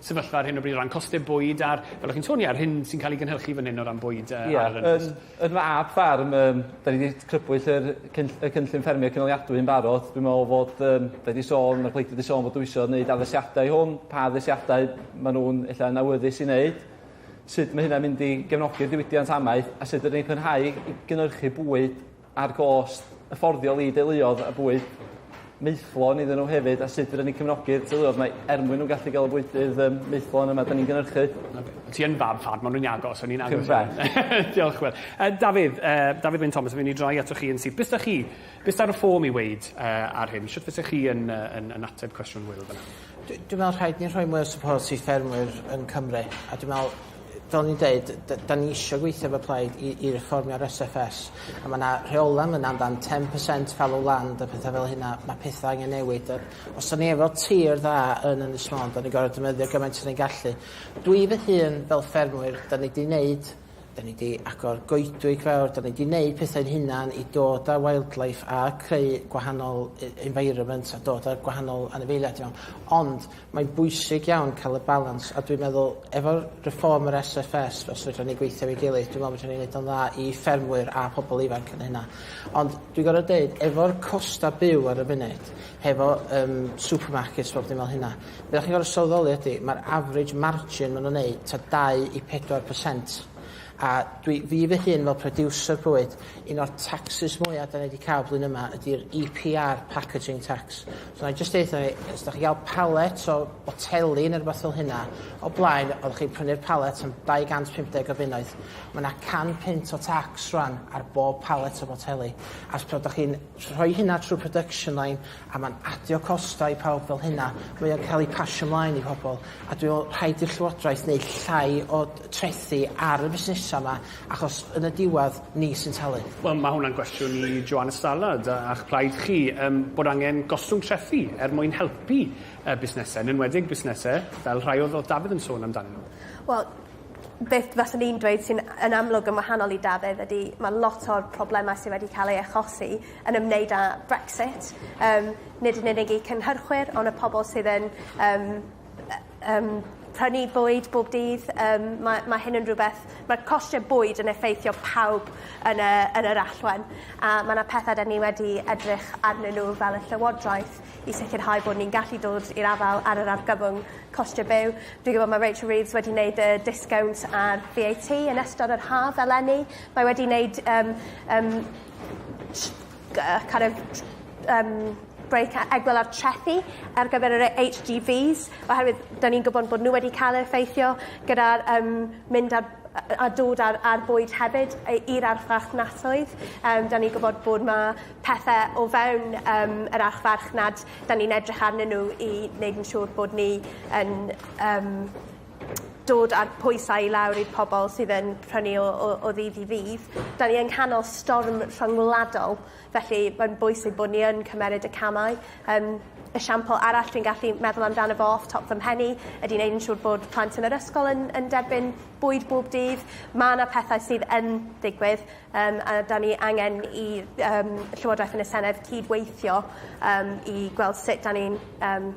sefyllfa ar hyn o bryd o ran costau bwyd a'r, fel o'ch chi'n sôn, ie, yr hyn sy'n cael ei gynhyrchu fan hyn o ran bwyd yy ar yr ynys? Ie, yn fab ffarm, yym, 'da ni 'di crybwyll yr cynll- y cynllun ffermio cynaliadwy yn barod. Dwi'n me'wl fod yym, 'da ni 'di sôn, ma'r pleidlais 'di sôn fod o isio neud addasiadau i hwn, pa addasiadau ma' nw'n ella yn awyddus i neud, sud ma' hynna'n mynd i gefnogi'r diwydiant amaeth, a sud fydden ni'n parhau i gynyrchu bwyd a'r gost hyfforddiol i deuluoedd a bwyd maethlon iddyn nhw hefyd a sut fedrwn ni cefnogi'r teuluoedd mae er mwyn nhw'n gallu gael y bwydydd yym maethlon yma 'dan ni'n gynyrchu. Ti yn fab fad, maen nhw'n agos, o'n i'n agos. Diolch Wil. Uh, Dafydd, uh, Dafydd Wyn Thomas, fi'n i droi ato chi yn syth. Bys da chi, bys ar y ffôm i weid uh, ar hyn, sut fysa chi yn, uh, yn, yn ateb cwestiwn Wil fyna? Dwi dwi me'wl rhaid ni rhoi mwy o support i ffermwyr yn Cymru a dwi me'wl fel o'n i'n deud d- 'dan ni isio gweithio efo plaid i i fformia'r Ess Eff Ess a ma' 'na rheola' yn fynna amdan ten percent fallow land a petha fel hynna ma' petha angen newid a os 'dan ni efo tir dda yn Ynys Môn 'dan ni gor'o' defnyddio gymaint 'sa ni'n gallu. Dwi fy hun fel ffermwyr 'dan ni 'di neud Da ni 'di agor goedwig fawr, da ni 'di neud pethau'n hunan i dod â wildlife a creu gwahanol environment a dod â gwahanol anifeiliaid i mewn. Ond mae'n bwysig iawn cael y balans a dwi'n meddwl efo'r reform yr SFS os fedran ni gweithio efo'i gilydd dwi'n meddwl fedran ni neud o'n dda i ffermwyr a pobl ifanc yn hynna. Ond dwi'n gorfod deud efo'r costa' byw ar y funud hefo yym supermarkets bob dim fel hynna Be dach chi'n gorfod sylweddoli ydi, mae'r average margin maen nhw'n wneud ta 2 i 4%. A dwi, fi fy hun fel producer bwyd, un o'r taxes mwyaf da ni wedi cael blwyddyn yma ydy'r EPR packaging tax. So na i jyst deutha chi, os da chi'n cael pallet o boteli neu rhywbeth fel hynna, o blaen, oeddech chi'n prynu'r pallet am 250 o bunnoedd. Mae yna can punt o tax rwan ar bob pallet o boteli. As pe oeddech chi'n rhoi hynna trwy production line a ma'n adio costau i pawb fel hynna mae o'n ca'l ei pasio mlaen i pobol a dwi me'wl rhaid i'r llywodraeth neu' llai o d- trethi ar y busnesa ma achos yn y diwadd ni sy'n talu. Wel ma' hwnna'n gwestiwn i Joana Stallard a a'ch plaid chi yym bod angen gostwng trethi er mwyn helpu yy busnese yn enwedig busnese fel rhai odd odd Dafydd yn sôn amdanyn nw. Wel beth faswn i'n dweud sy'n a- yn amlwg yn wahanol i Dafydd ydi ma' lot o'r probleme sy wedi ca'l ei achosi yn ymwneud â Brexit yym nid yn unig eu cynhyrchwyr on' y pobol sydd yn yym yy yym prynu bwyd bob dydd yym ma' ma' hyn yn rwbeth ma'r costie bwyd yn effeithio pawb yn y yn yr allwe'n a ma' 'na pethe 'dyn ni wedi edrych arnyn n'w fel y llywodraeth i sicirhau bod ni'n gallu dod i'r afael ar yr argyfwng costie byw. Dwi gwbod ma' Rachel Reeves wedi neud y discount ar Vee Ay Tee yn ystod yr haf eleni. Mae wedi neud yym yym sh- gy- yy kind of tr- yym brêc a egwyl ar trethi ar gyfer yr yy Haitch Gee Vees oherwydd 'dan ni'n gwbod bod n'w wedi ca'l eu effeithio gyda'r yym mynd ar yy a dod a'r a'r bwyd hefyd yy i'r archfarchnasoedd yym 'dan ni gwbod bod 'na pethe o fewn yym yr archfarchnad 'dan ni'n edrych arnyn n'w i neud yn siŵr bod ni yn yym dod â'r pwysau i lawr i'r pobol sydd yn prynu o o o ddydd i ddydd. 'Dan ni yng nghanol storm rhyngwladol felly mae'n bwysig bod ni yn cymeryd y camau. Yym esiampl arall dwi'n gallu meddwl amdano fo off top fy mhen i ydi neud yn siŵr bod plant yn yr ysgol yn yn derbyn bwyd bob dydd. Ma' 'na pethau sydd yn digwydd Yym a 'dan ni angen i yym Llywodraeth yn y Senedd cyd-weithio yym i gweld sut 'dan ni'n yym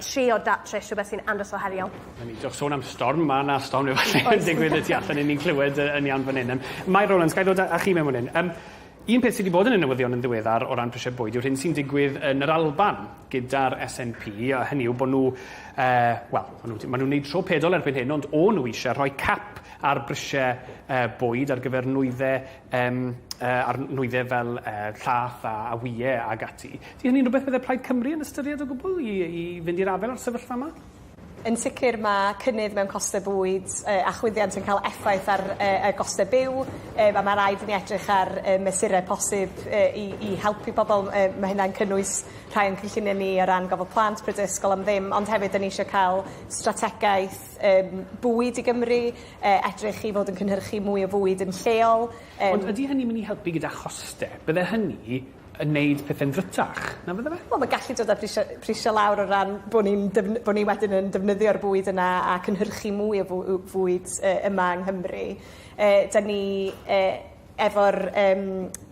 trio datrys rhwbeth sy'n andros o heriol. Newn ni jyst sôn am storm ma' 'na storm efo lle yn digwydd y tu allan i ni'n clywed yy yn iawn fan 'yn. Yym Mair Rowlands gai ddod â â chi mewn fan 'yn. Yym un peth sy 'di bod yn y newyddion yn ddiweddar o ran prisie bwyd yw'r hyn sy'n digwydd yn yr Alban gyda'r SNP a hynny yw bo' n'w yy wel ma' n'w 'di ma' nw'n neud tro pedol erbyn hyn ond o'n n'w isie rhoi cap ar brisiau bwyd ar gyfer nwyddau yym yy ar nwyddau fel yy llath a a wyau ag ati. Ydy hynny'n rhywbeth bydde Plaid Cymru yn ystyried o gwbl i i fynd i'r afael â'r sefyllfa 'ma? Yn sicr mae cynnydd mewn costau bwyd yy a chwyddiant yn cael effaith ar yy y gostau byw yym a mae raid i ni edrych ar yy mesurau posib yy i i helpu pobl yy ma' hynna'n cynnwys rhai o'n cynlluniau ni o ran gofal plant, pryd ysgol am ddim ond hefyd 'dan ni isio ca'l strategaeth yym bwyd i Gymru yy edrych i fod yn cynhyrchu mwy o fwyd yn lleol yym. Ond ydi hynny myn' i helpu gyda choste? Bydde hynny yn neud pethe'n ddrwtach, na fydde fe? Wel ma' gallu dod â brisio prisio lawr o ran bo' ni'n defny- bo' ni wedyn yn defnyddio'r bwyd yna a cynhyrchu mwy o fw- w- fwyd yy yma yng Nghymru yy 'dyn ni yy Efo'r yym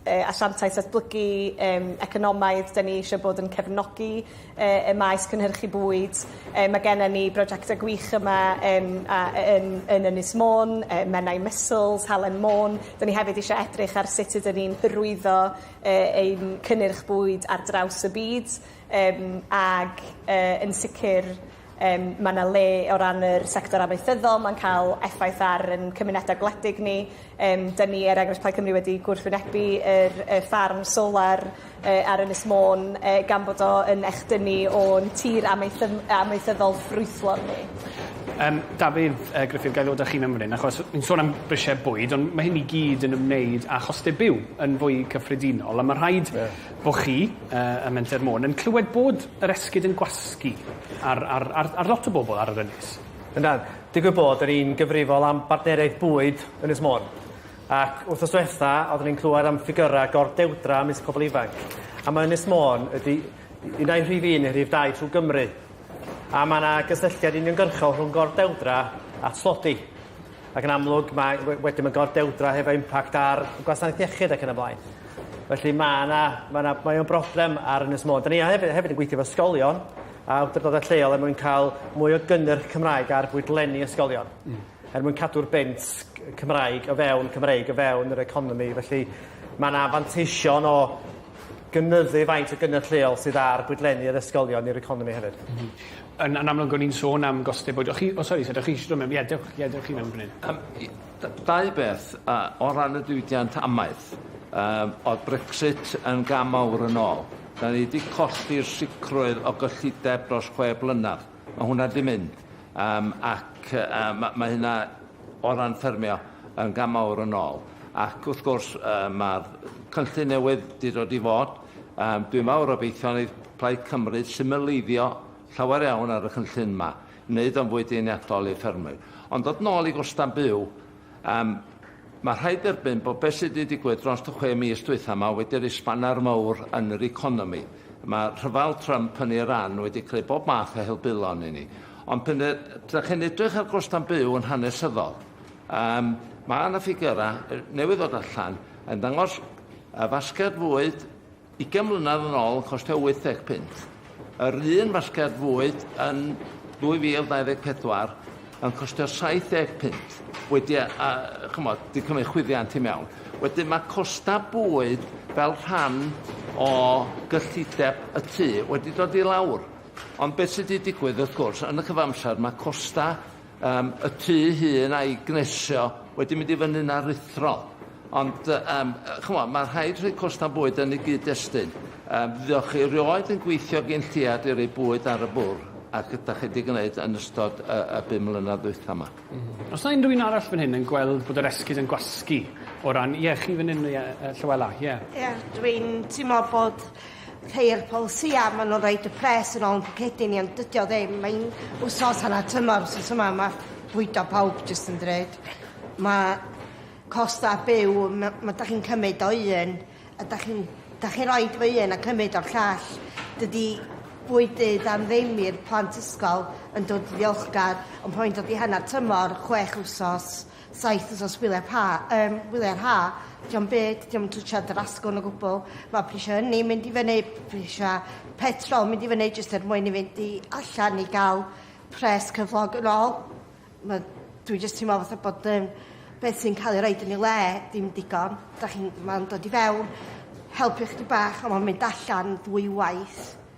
yy asiantaeth datblygu yym economaidd 'dyn ni isio bod yn cefnogi yy y maes cynhyrchu bwyd yy ma' gennon ni brojecte gwych yma yym a yy yn yn Ynys Môn yy Menai Mussels, Halen Môn 'dyn ni hefyd isio edrych ar sut ydyn ni'n hyrwyddo yy ein cynnyrch bwyd ar draws y byd yym ag yy yn sicir Yym mae 'na le o ran yr sector amaethyddol, mae'n cael effaith ar ein cymunedau gwledig ni. Yym 'dan ni er enghraifft Plaid Cymru wedi gwrthwynebu yr y ffarm solar yy ar Ynys Môn yy gan bod o yn echdynnu o'n tir amaethydd- amaethyddol ffrwythlon ni. Yym Dafydd yy Gruffydd ga'i ddod â chi'n ymryn achos ni'n sôn am brisiau bwyd ond mae hyn i gyd yn ymwneud â chostau byw yn fwy cyffredinol a ma' rhaid... Ie. ...bo' chi yy ym Menter Môn yn clywed bod yr esgid yn gwasgu ar ar ar ar lot o bobl ar yr ynys. Yndan. Digwydd bod yr un gyfrifol am bartneriaeth bwyd Ynys Môn. Ac wthnos dwetha oeddwn i'n clywed am ffigyra gordewdra ymysg pobl ifanc. A mae Ynys Môn ydi un ai rhif un neu rhif dau trwy Gymru. A mae yna gysylltiad uniongyrchol rhwng gordewdra a tlodi. Ac yn amlwg, mae, wedyn mae'n gordewdra hefo impact ar gwasanaeth iechyd ac yn y blaen. Felly mae yna, mae yna, mae o'n broblem ar Ynys Môn. Da ni hefyd, hefyd yn gweithio efo ysgolion a awdurdodau lleol er mwyn cael mwy o gynnyrch Cymraeg ar fwydlenni ysgolion. Mm. Er mwyn cadw'r bent Cymraeg o fewn Cymreig o fewn yr economi. Felly mae yna fanteision o gynyddu faint o gynnyrch lleol sydd ar gwydlenni yr ysgolion i'r economi hefyd. M-hm. Yn yn amlwg o'n i'n sôn am goste bwyd. O' chi o sori so dach chi eisiau dod mewn? Ie dewch ie dewch chi mewn fan 'yn. Yym i- d- dau beth yy o ran y diwydiant amaeth yym o'dd Brexit yn gam mawr yn ôl. 'Dan ni 'di colli'r sicrwydd o gyllideb dros chwe blynadd. Mae hwnna 'di mynd yym ac yy yy ma' ma' hynna o ran ffermio yn gam mawr yn ôl ac wrth gwrs yy ma'r cynllun newydd 'di dod i fod yym dwi mawr obeithio neith Plaid Cymru symleiddio llawer iawn ar y cynllun 'ma, neud o'n fwy deniadol i ffermwyr. Ond dod nôl i gosta' byw, Yym, mae rhaid derbyn bod beth sydd wedi digwydd dros y chwe mis dwytha yma wedi rhoi sbaner mawr yn yr economi. Mae rhyfel Trump yn Iran wedi creu bob math o helbulon i ni. Ond pan ydych chi'n edrych ar gostau'n byw yn hanesyddol, um, mae yna ffigurau newydd ddod allan yn dangos y fasged fwyd Ugain mlynedd yn ôl yn costio 80 punt. Yr un fasged fwyd yn 2024 yn costio 70 punt. Wedi a, a chymod, di cymryd chwyddiant i mewn. Wedyn mae costa bwyd fel rhan o gyllideb y tu wedi dod i lawr. Ond beth sydd wedi digwydd, wrth gwrs, yn y cyfamser mae costa Yym y tŷ hŷn a'i gnesio wedi mynd i fyny'n aruthrol. Ond yy yym yy ch'mo' ma' rhaid rhoi costau bwyd yn y gyd-destun. Yym ddiolch i rioed yn gweithio gin lleiad i roi bwyd ar y bwr' ac ydach chi 'di gneud yn ystod y y bum mlynadd ddwytha 'ma. M-hm. Os na unrhyw un arall fan hyn yn gweld bod yr esgid yn gwasgu o ran ie chi fan 'yn ie yy Llywela ie. Ie dwi'n timlo bod rhei o'r polisïau, maen nhw'n rhaid y pres yn ôl yn pwcedi ni, ond dydy o ddim. Mae'n wsos yna tymor, wsos yma mae bwydo pawb jyst yn drud. Mae costau byw, mae, mae da chi'n cymryd o un, a da chi'n da chi roi fy un a cymryd o'r llall. Dydy bwydydd am ddim i'r plant ysgol yn dod ddiolchgar, ond pan mae'n dod i hanner tymor, chwech wsos, saith wsos gwyliau'r ha, um, gwyliau'r ha, diom byd, diom yn twtio yr asgwrn o gwbl. Mae prisiau hynny mynd i fyny, prisiau petrol mynd i fyny jyst er mwyn i fynd i allan i gael pres cyflog yn ôl. Mae, dwi jyst teimlo fatha bod um, beth sy'n cael ei roed yn ei le dim digon. Da chi'n, mae'n dod i fewn, helpu chdi bach, ond mae'n mynd allan ddwy waith.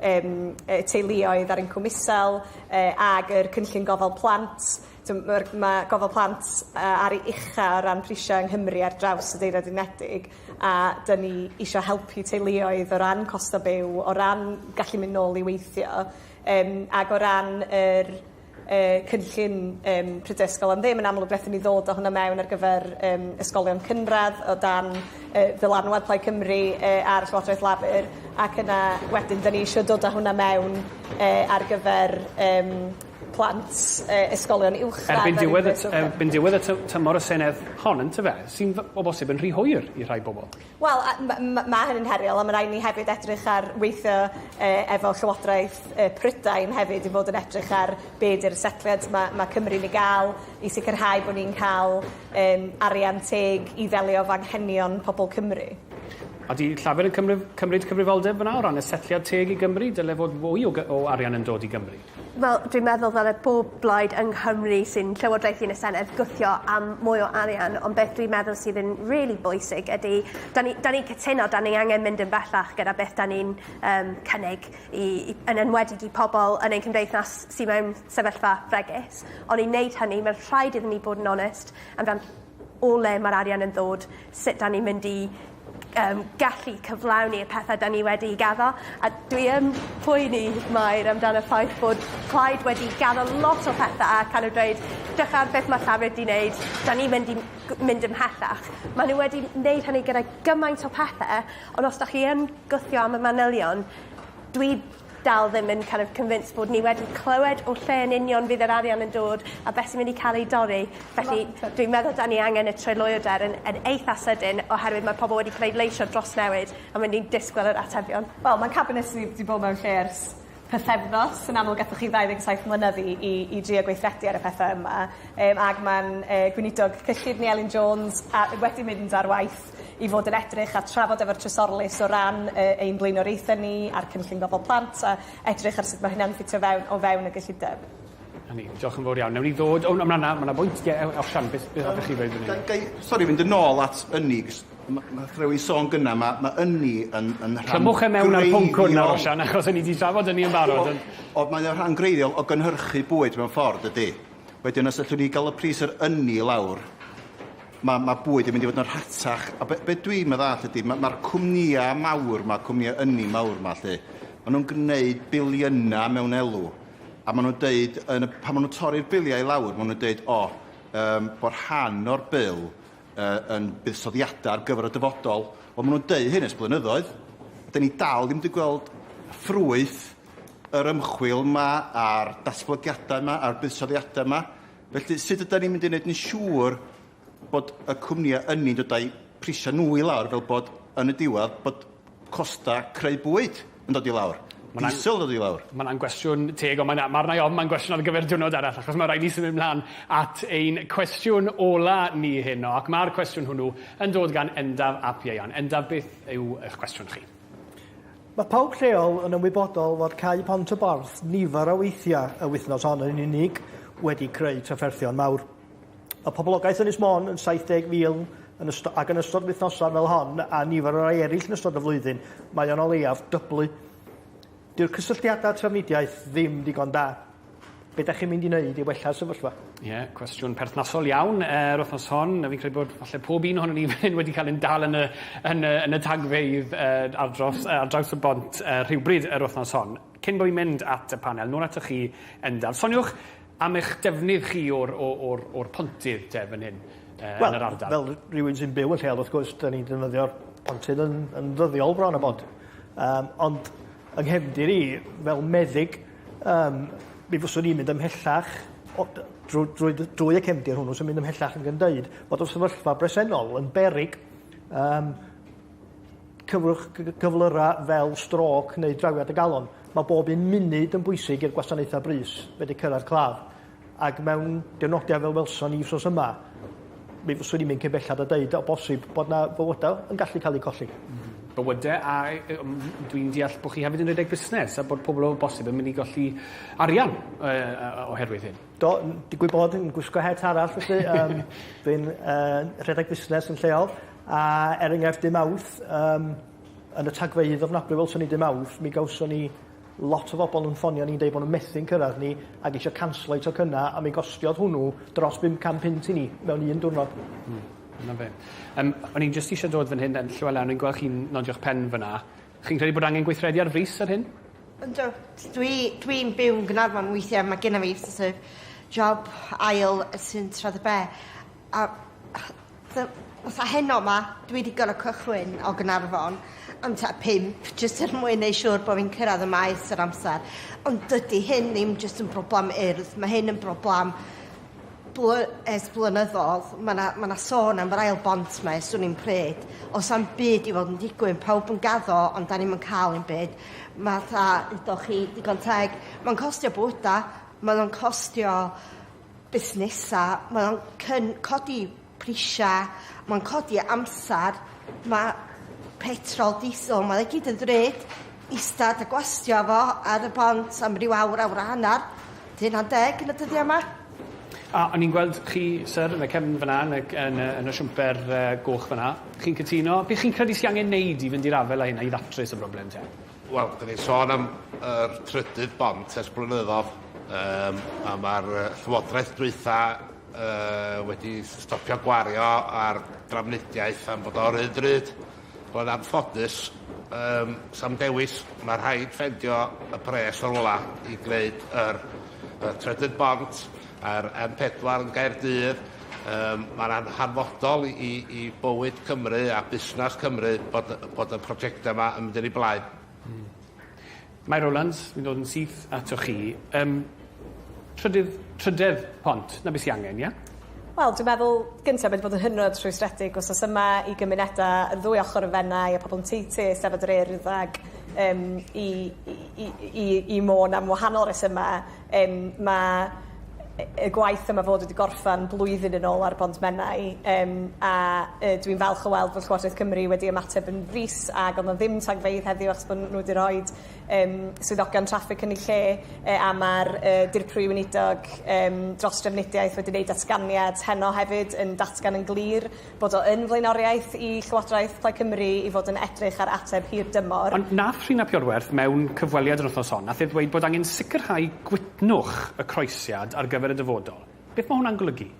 yym y teuluoedd ar incwm isel yy ag yr cynllun gofal plant t'm' ma'r ma' gofal plant yy ar ei ucha o ran prisiau yng Nghymru ar draws y Deyrnad Unedig a 'dyn ni isio helpu teuluoedd o ran costa byw o ran gallu mynd nôl i weithio yym ag o ran yr y cynllun yym pryd ysgol am ddim yn amlwg nethon ni ddod â hwnna mewn ar gyfer yym ysgolion cynradd o dan yy ddylanwad Plaid Cymru yy ar Llywodraeth Lafur ac yna wedyn 'dyn ni isio dod â hwnna mewn yy ar gyfer yym plant yy ysgolion uwchradd... Erbyn diwedd y t- erbyn diwedd y ty- tymor y Senedd hon yntyfe? Sy'n f- o bosib yn rhy hwyr i rhai bobol. Wel a- ma' ma' ma' hynny'n heriol a ma' raid ni hefyd edrych ar weithio yy efo llywodraeth yy Prydain hefyd i fod yn edrych ar be' 'di'r setliad ma' ma' Cymru'n ei ga'l i sicirhau bo' ni'n ca'l yym arian teg i ddelio efo anghenion pobol Cymru. Ydi Llafur yn cymryd cymryd cyfrifoldeb fana o ran y setliad teg i Gymru? Dyle fod fwy o gy- o arian yn dod i Gymru. Wel dwi'n meddwl ddylie bob blaid yng Nghymru sy'n llywodraethu yn y senedd gwthio am mwy o arian ond beth dwi'n meddwl sydd yn rili bwysig ydi 'dan ni 'dan ni'n cytuno 'dan ni angen mynd yn bellach gyda beth 'dan ni'n yym cynnig i i yn enwedig i pobol yn ein cymdeithas sy mewn sefyllfa fregus on' i neud hynny ma' rhaid iddyn ni bod yn onest amdan o le ma'r arian yn ddod sut 'dan ni'n mynd i yym gallu cyflawni y pethe 'dan ni wedi 'u gaddo a dwi yn poeni Mair amdan y ffaith bod plaid wedi gaddo lot o pethe a kind of dweud 'drych ar beth ma' llafur 'di neud 'dan ni mynd i m- g- mynd ymhellach. Ma' n'w wedi neud hynny gyda gymaint o pethe ond os 'dach chi yn gwthio am y manylion dwi dal ddim yn kin' of convinced bod ni wedi clywed o lle yn union fydd yr arian yn dod a be' sy mynd i ca'l ei dorri felly dwi'n meddwl 'dan ni angen y tryloywder yn yn eitha sydyn oherwydd ma' pobol wedi pleidleisio dros newid a ma' nw'n disgwyl yr atebion. Wel ma'r cabinet 'di 'di bod mewn lle ers pythefnos yn amlwg gathoch chi ddau ddeg saith mlynedd i i i drio gweithredu ar y pethe yma yym ag ma'n yy gweinidog cyllid ni Elin Jones a- wedi mynd ar waith i fod yn edrych a trafod efo'r Trysorlys o ran yy ein blaenoriaethau ni a'r cynllun gofal plant a edrych ar sut ma' hynna'n ffitio fewn o fewn y gyllideb. Na ni. Diolch yn fowr iawn. Newn ni ddod... O na ma' 'na ma' 'na bwynt. Ie ew- ewch Sian beth beth hoffech chi ddweud fan 'yn? Ga- gai sori fynd yn ôl at ynni 'c'os ma' ma' nath rywun sôn gynna' ma' ma' ynni yn yn rhan greiddiol... Clymwch e mewn â'r pwnc hwn nawr Osian achos 'yn ni 'di trafod ynni yn barod ond... O- ond mae o'n rhan greiddiol o gynhyrchu bwyd mewn ffordd dydi? Wedyn os allwn ni ga'l y pris yr ynni i lawr Mae ma bwyd yn mynd i fod yn rhatach, a be, be dwi'n meddwl ydy, mae'r ma, ma cwmnïau mawr, mae cwmnïau ynni mawr yma lle, maen nhw'n gwneud biliynau mewn elw, a maen nhw'n deud, yn y, pan maen nhw'n torri'r biliau i lawr, maen nhw'n deud, o, oh, um, bod rhan o'r bil uh, yn buddsoddiadau ar gyfer y dyfodol. Wel, maen nhw'n deud hyn ys blynyddoedd. Da ni dal ddim wedi gweld ffrwyth yr ymchwil yma a'r datblygiadau yma a'r buddsoddiadau yma. Felly, sut ydan ni'n mynd i wneud yn siŵr bod y cwmnïau ynni'n dod â'u prisiau nhw i lawr fel bod yn y diwedd bod costau creu bwyd yn dod i lawr, diesel yn dod i lawr? Mae 'na'n gwestiwn teg ond mae'n... Ma'r 'na i ofn mae'n gwestiwn ar gyfer diwrnod arall achos mae rhaid ni symud mlaen at ein cwestiwn ola ni heno ac ma'r cwestiwn hwnnw yn dod gan Endaf ap Ieuan. Endaf beth yw eich cwestiwn chi? Mae pawb lleol yn ymwybodol fod Cau Pont y Borth nifer o weithiau y wythnos hon yn unig wedi creu trafferthion mawr. Mae poblogaeth Ynys Môn yn 70,000 yn ystod, ac yn ystod wythnosau fel hon a nifer o rai eraill yn ystod y flwyddyn, mae o'n o leiaf dyblu. Dyw'r cysylltiadau trafnidiaeth ddim digon da. Be' 'dach chi'n mynd i neud i wella'r sefyllfa? Ie, cwestiwn perthnasol iawn yy yr wthnos hon a fi'n credu bod falle pob un ohonon ni fan 'yn wedi ca'l ein dal yn y yn y yn y tagfeydd yy ar dros yy ar draws y bont yy rhywbryd yr wthnos hon. Cyn bo' fi'n mynd at y panel nôl atoch chi yn dal soniwch am eich defnydd chi o'r o o'r o'r pontydd te fan hyn yy yn yr ardal. Wel fel r- rywun sy'n byw y lleol wrth gwrs 'dan ni'n defnyddio'r pontydd yn yn ddyddiol bron a bod. Yym ond yng nghefndir i fel meddyg Yym mi fyswn i'n mynd ymhellach o- d- drw- drwy dy- drwy y cefndir hwnnw sy'n mynd ymhellach ag yn deud bod y sefyllfa bresennol yn beryg yym cyflwch cy- cy- cyflyra' fel strôc neu drawiad y galon. Ma' bob un munud yn bwysig i'r gwasanaethau brys fedru cyrraedd claf. Ac mewn dynodiad fel welson ni wsos yma, mi fyswn i'n mynd cyn bellad a deud o bosib bod 'na fywyda yn gallu ca'l eu colli. M-hm. Bywyde a yy yym dwi'n deall bo' chi hefyd yn redeg busnes a bod pobol o bosib yn myn' i golli arian yy yy yy oherwydd hyn. Do n- digwydd bod yn gwisgo het arall felly yym dwi'n yy rhedeg busnes yn lleol a er enghraifft dy' Mawrth yym yn y tagfeydd ofnadwy welson ni dy' Mawrth mi gawson ni Lot o bobl yn ffonio ni'n deud bod nhw methu'n cyrraedd ni ac eisiau canslo eu tocynnau a mi gostiodd hwnnw dros 500 punt i ni mewn un diwrnod. Hmm. 'Na fe. Yym o'n i'n jyst isio dod fan hyn yym Llywela o'n i'n gwel' chi'n nodio'ch pen fyn 'na. Chi'n credu bod angen gweithredu ar frys ar hyn? Yndw. Dwi dwi'n byw yn Gaernarfon weithie ma' genna fi so't of job ail sy'n tra dy be'. A the fatha heno 'ma dwi 'di gor'o' cychwyn o Gnarfon am tua pump jyst er mwyn neu' siŵr bo' fi'n cyrradd y Maes ar amser ond dydi hyn ddim jyst yn broblam Urdd ma' hyn yn broblam bly- ers blynyddodd ma' 'na ma' 'na sôn am yr ail bont 'ma ers swn i'n pryd o's am byd i fod yn digwydd pawb yn gaddo ond 'dan ni'm yn ca'l 'im byd ma' tha udoch chi digon teg ma'n costio bywyda mae o'n costio busnesau, mae o'n cyn- codi prisiau, mae'n codi amser, mae petrol, diesel, mae o gyd yn ddrud, istad a gwastio fo ar y bont am ryw awr, awr a hanner, dy hunan deg yn y dyddiau yma. A o'n i'n gweld chi, syr, yn y cefn fyna yn y yn y yn y siwmper yy goch fyna. Chi'n cytuno? Be' chi'n credu sy angen neud i fynd i'r afael â hynna i ddatrys y broblem te? Wel, dyn ni'n sôn am yr trydydd bont ers blynyddodd, um, a mae'r llywodraeth dwytha uh, wedi stopio gwario ar drafnidiaeth am bod o'r un drud. Roedd anffodus, um, sam dewis, mae rhaid ffendio y pres o'r wla i gwneud yr, y trydydd bont, Mae'r M4 yn Gaerdydd. Yym, mae'n an- hanfodol i i i bywyd Cymru a busnas Cymru bod y bod y prosiectau 'ma yn mynd yn eu blaen. Hmm. Mae Rowlands, fi'n dod yn syth atoch chi. Yym, trydydd, trydedd pont, 'na be sy angen, ie? Wel, dwi'n meddwl, gynta', mae 'di bod yn hynod rhwystredig wsos yma i gymuneda' yr ddwy ochor yn Fenai a pobol yn Tŷ Tŷ, Eisteddfod yr Urdd ag yym i i i i i Môn am wahanol resyma'. Yym ma' yy y gwaith yma fod wedi gorffan blwyddyn yn ôl ar bont Menai yym a yy dwi'n falch o weld fod Llywodraeth Cymru wedi ymateb yn frys ag o'dd 'na ddim tagfeydd heddiw achos bo' n'w 'di roid yym swyddogion traffig yn 'u lle yy a ma'r yy Dirprwy Weinidog yym dros Drefnidiaeth wedi neud datganiad heno hefyd yn datgan yn glir bod o yn flaenoriaeth i Llywodraeth Plaid Cymru i fod yn edrych ar ateb hir dymor. Ond nath Rhun ap Iorwerth mewn cyfweliad yr wythnos hon, nath e ddweud bod angen sicrhau gwytnwch y croesiad ar gyfer y dyfodol. Beth mae hwnna'n golygu?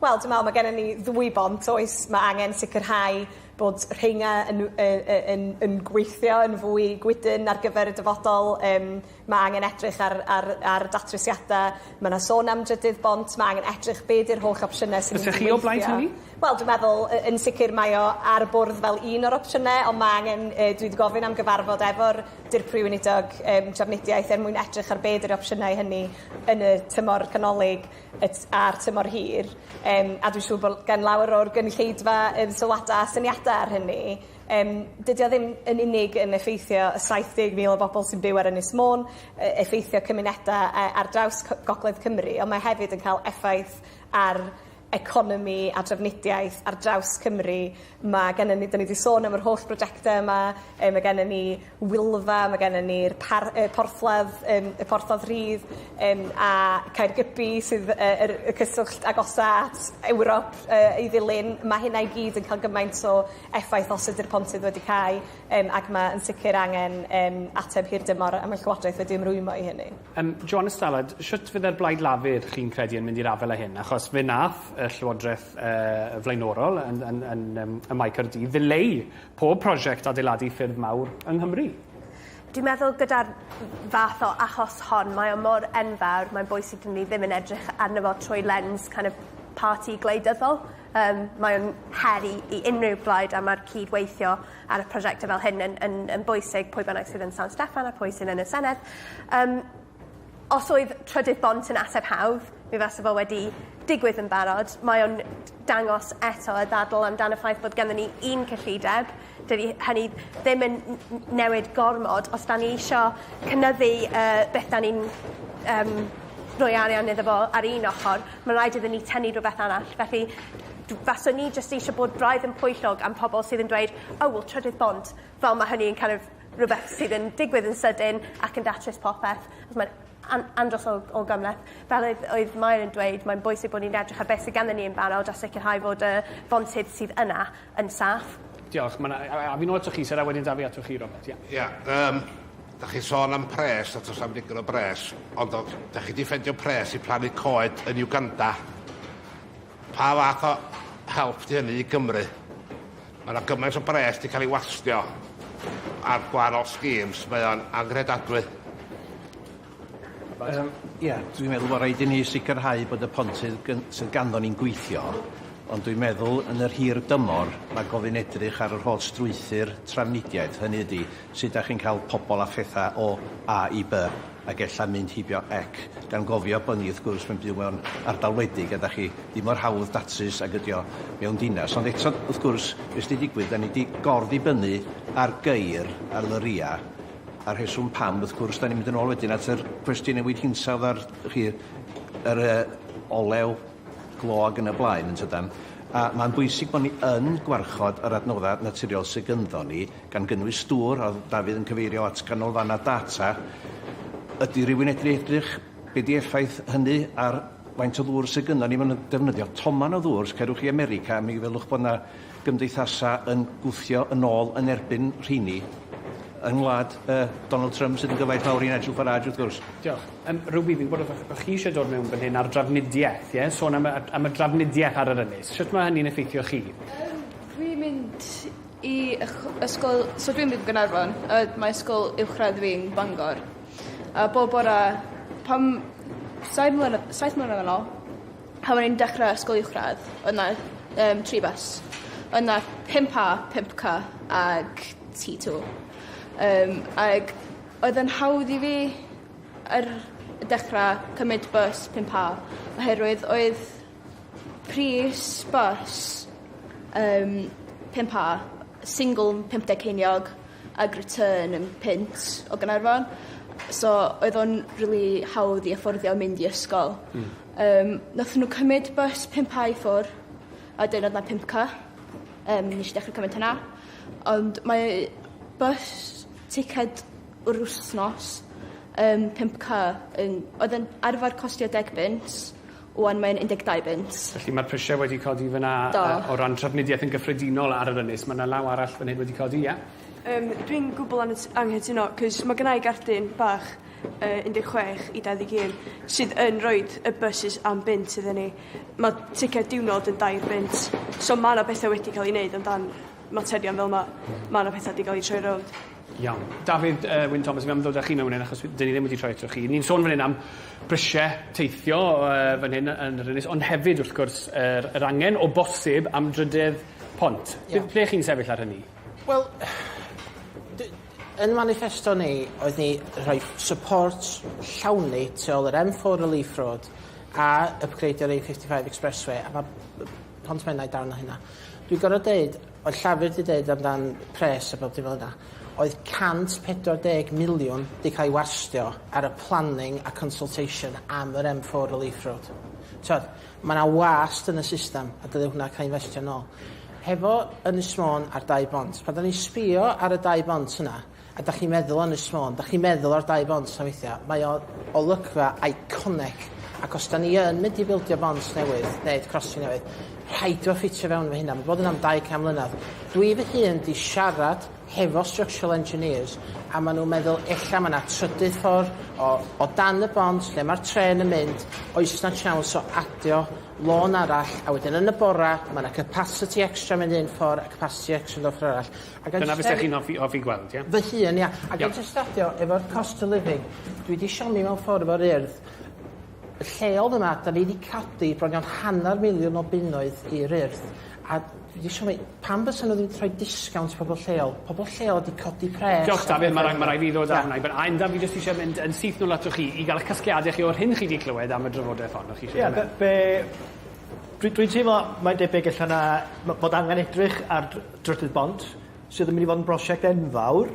Wel, dwi'n meddwl mae gennym ni ddwy bont, oes, mae angen sicrhau bod rheina yn, yn, yn, yn gweithio yn fwy gwydn ar gyfer y dyfodol, um, Mae angen edrych ar ar ar datrysiada. Ma' 'na sôn am drydydd bont ma' angen edrych be' 'di'r holl opsiyne sy mynd i weithio. Fyse chi o blaid hynny? Wel dwi meddwl yy yn sicir mae o ar y bwrdd fel un o'r opsiyne on' ma' angen yy dwi 'di gofyn am gyfarfod efo'r Dirprwy Weinidog yym Trafnidiaeth er mwyn edrych ar be' 'di'r opsiyne i hynny yn y tymor canolig y t- a'r tymor hir yym a dwi siŵr bo' l- gen lawer o'r gynulleidfa yym sylwada' a syniada ar hynny. Yym dydi o ddim yn unig yn effeithio y 70,000 o bobol sy'n byw ar Ynys Môn yy effeithio cymuneda yy ar draws cy- gogledd Cymru on' mae hefyd yn ca'l effaith ar economi a drafnidiaeth ar draws Cymru ma' gennon ni 'dyn ni 'di sôn am yr holl brojecte yma yy ma' gennon ni Wylfa ma' gennon ni'r par- yy porthladd yym y porthladd rhydd yym a Caergybi sydd yy yr y cyswllt agosa at Ewrop yy i ddilyn ma' hynna i gyd yn ca'l gymaint o effaith os ydi'r pontydd wedi cau yym ac ma' yn sicir angen yym ateb hir dymor a ma' llywodraeth wedi ymrwymo i hynny. Yym Joana Stallard shwt fydde'r Blaid Lafur chi'n credu yn mynd i'r afel â hyn achos fe nath y llywodreth yy flaenorol yn yn yn yym ym Mae Caerdydd ddileu pob prosiect adeiladu ffyrdd mawr yng Nghymru. Dwi'n meddwl gyda'r fath o achos hon mae o mor enfawr mae'n bwysig i ni ddim yn edrych arno fo trwy lens kind of parti gwleidyddol yym mae o'n her i i unryw blaid a ma'r cyd-weithio ar y prosiecte fel hyn yn yn yn bwysig pwy bynnag sydd yn San Steffan a pwy sydd yn y Senedd. Yym. Os oedd trydydd bont yn ateb hawdd mi fase fo wedi digwydd yn barod. Mae o'n d- dangos eto y ddadl amdan y ffaith bod ganddon ni un cyllideb. Dydi hynny ddim yn n- n- newid gormod os 'dan ni isio cynyddu yy beth 'dan ni'n yym roi arian iddo fo ar un ochor ma' raid iddyn ni tynnu rwbeth arall felly dw- faswn i jyst eisiau bod braidd yn pwyllog am pobol sydd yn dweud o wel trydydd bont fel ma' hynny yn kin' of rhywbeth sydd yn digwydd yn sydyn ac yn datrys popeth achos mae'n an- andros o o gymhleth. Fel oedd oedd Mair yn dweud mae'n bwysig bod ni'n edrych ar beth sy ganddyn ni yn barod a sicirhau fod y fontydd sydd yna yn saff. Diolch. Ma' 'na... A a a fi'n ôl atoch chi Syr a wedyn 'da fi atoch chi Robert. Ia. Ia yym 'dach chi'n sôn am pres a do's na'm digon o bres ond o- 'dach chi 'di ffendio pres i plannu coed yn Uganda? Pa fath o help 'di hynny i Gymru? Ma' 'na gymaint o bres 'di ca'l ei wastio ar gwahanol schemes, mae o'n anghredadwy. Yym ia, dwi'n meddwl bo' raid i ni sicrhau bod y pontydd gyn- sydd ganddo ni'n gweithio, ond dwi'n meddwl yn yr hir dymor ma' gofyn edrych ar yr holl strwythur trafnidiaeth, hynny ydi, Sut dach chi'n cael pobl a phethau o A i By, ac ella mynd heibio ec, gan gofio bod ni wrth gwrs mewn byw mewn ardal wledig a dach chi ddim mor hawdd datrys ag ydi o mewn dinas, ond eto wrth gwrs be sy 'di digwydd 'dan ni 'di gorddibynnu ar geir ar lyria a rheswm pam wrth gwrs 'dan ni'n mynd yn ôl wedyn at yr cwestiwn newid hinsawdd a'r chi yr yy olew glo ag yn y blaen yntydan a ma'n bwysig bod ni yn gwarchod yr adnodda naturiol sy gynddon ni gan gynnwys dŵr, a Dafydd yn cyfeirio at ganolfannau data, ydy rhywun edru edrych be di effaith hynny ar faint o ddŵr sydd gynnon ni mewn defnyddio toman o ddŵr, os cerwch chi i America mi welwch bod yna gymdeithasa yn gwthio yn ôl yn erbyn rheini yng ngwlad uh, Donald Trump sydd yn gyfaill mawr i Nigel Farage wrth gwrs. Diolch. Um, Ruby, fi'n bod o'ch chi eisiau dod mewn fan hyn ar drafnidiaeth, ie? Sôn am y, am y drafnidiaeth ar yr ynys. Sut mae hynny'n effeithio chi? Um, dwi'n mynd I ysgol so dwi'n byw yn Gaernarfon a mae ysgol uwchradd fi'n Bangor a bob bore pan saith mlyna- saith mlynedd yn ôl pan o'n i'n dechre ysgol uwchradd o'dd 'na yym tri bws o'dd 'na pump a pump cy ag tŷ tô yym ag oedd yn hawdd i fi ar y dechra cymryd bws pump a oherwydd oedd Pris bws yym pump a single yn pump deg ceiniog ag return yn punt o Ganarfon so oedd o'n rili hawdd i affordio mynd i ysgol. Hmm. Yym nathon n'w cymyd bys pump a i ffwr a wedyn odd 'na pump cy yym nesh i dechre cymyd hwnna ond mae bys ticed yr wsnos yn pump cy yn oedd yn arfar costio deg bunt Wan mae'n 12 bunt. Felly mae'r prisiau wedi codi fyna... Do. ...yy o ran trafnidiaeth yn gyffredinol ar yr ynys. Ma' 'na law arall fan hyn wedi codi, ia? Yym dwi'n gwbwl angyt- anghytuno 'c'os ma' gynnai gardyn bach yy 16 i 21 sydd yn roid y bysus am bunt iddyn ni. Ma' ticed diwrnod yn dair bunt so ma' 'na bethe wedi ca'l 'u neud amdan materion fel 'ma. Ma' 'na petha 'di ga'l 'u troi rownd. Iawn. Dafydd yy Wyn Thomas fi'n ymddod â chi mewn fan 'yn achos wi... 'dyn ni ddim wedi troi atoch chi. Ni'n sôn fan 'yn am brisie teithio yy fan hyn yy yn yr ynys ond hefyd wrth gwrs yr yr angen o bosib am drydedd pont. Ie. Be- ble chi'n sefyll ar hynny? Wel d- yn maniffesto ni oedd ni rhoi ff- support llawn ni tu ôl yr Em Four Relief Road a ypgreidio'r A fifty five Expressway a ma' b- Pont Menai darn o hynna. Dwi gor'o' deud Oedd Llafur 'di deud amdan pres a bob dim fel 'na, oedd 140 miliwn 'di cael ei warstio ar y planning a consultation am yr M four relief road. T'od, ma' 'na wast yn y system a dyle hwnna cael ei investio nôl. Hefo Ynys Môn a'r dau bont, pan 'dan ni'n sbio ar y dau bont yna, A dach chi'n meddwl o Ynys Môn, dach chi'n meddwl ar Dau Bont na weithia'. Mae o olygfa iconic ac os 'dan ni yn mynd i bildio bont newydd neud crossing newydd rhaid o ffitio fewn efo hynna ma' bod yn am dau can mlynadd. Dwi fy hun 'di siarad hefo structural engineers a ma' nhw'n meddwl ella ma' 'na trydydd ffor o o dan y bont lle ma'r trên yn mynd oes 'na tsiawns o adio lôn arall a wedyn yn y bora ma' 'na capasiti extra mynd un ffor a capasiti extra mynd y ffor arall. Ag yn Dyna bysech chi'n hoffi hoffi gweld ie? Fy hun ia. Ag yn tystaddio efo'r cost of living dwi 'di siomi mewn ffor efo'r Urdd lleol yma 'da ni 'di codi bron iawn hanner miliwn o bunnoedd i'r Urdd a dwi 'di siomi pam fysa n'w ddim 'di rhoi disgownt i pobol lleol pobol lleol 'di codi pres. Diolch Dafydd ma' rai- ma' rai' fi ddod â hwnna i ben. A Enda fi jyst isie mynd yn syth nôl atoch chi i ga'l 'ych casgliade chi o'r hyn chi 'di clywed am y drafodeth hon o'ch chi isie Ie be' be' dwi dwi'n teimlo mae'n debyg ella na ma' bod angen edrych ar dr- Drydydd Bont, sydd yn mynd i fod yn brosiect enfawr,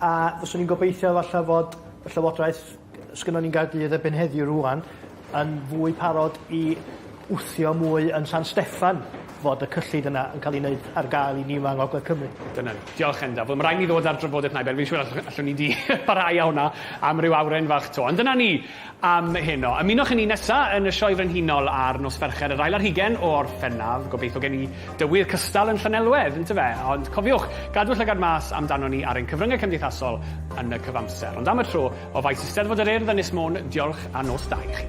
a fyswn i'n gobeithio falle fod y Llywodraeth yy sgynnon ni'n Gaerdydd erbyn heddiw rŵan yn fwy parod i wthio mwy yn San Steffan fod y cyllid yna yn ca'l 'i neud ar gael i ni yma yng Ngogledd Cymru. Dyna ni. Diolch Endaf. Wel ma' raid ni ddod â'r drafodaeth 'na i ben. Fi'n siŵr allwn ni 'di parhau â hwnna am ryw awren fach 'to. Ond dyna ni. am heno. Ymunwch â ni nesa yn y Sioe Frenhinol ar nos Fercher yr ail ar hugen o Orffennaf. Gobeithio gen i dywydd cystal yn Llanelwedd, yntyfe? Ond cofiwch, gadw llygad mas amdanon ni ar ein cyfryngau cymdeithasol yn y cyfamser. Ond am y tro, o faes Eisteddfod yr Urdd, Ynys Môn, diolch a nos da i chi.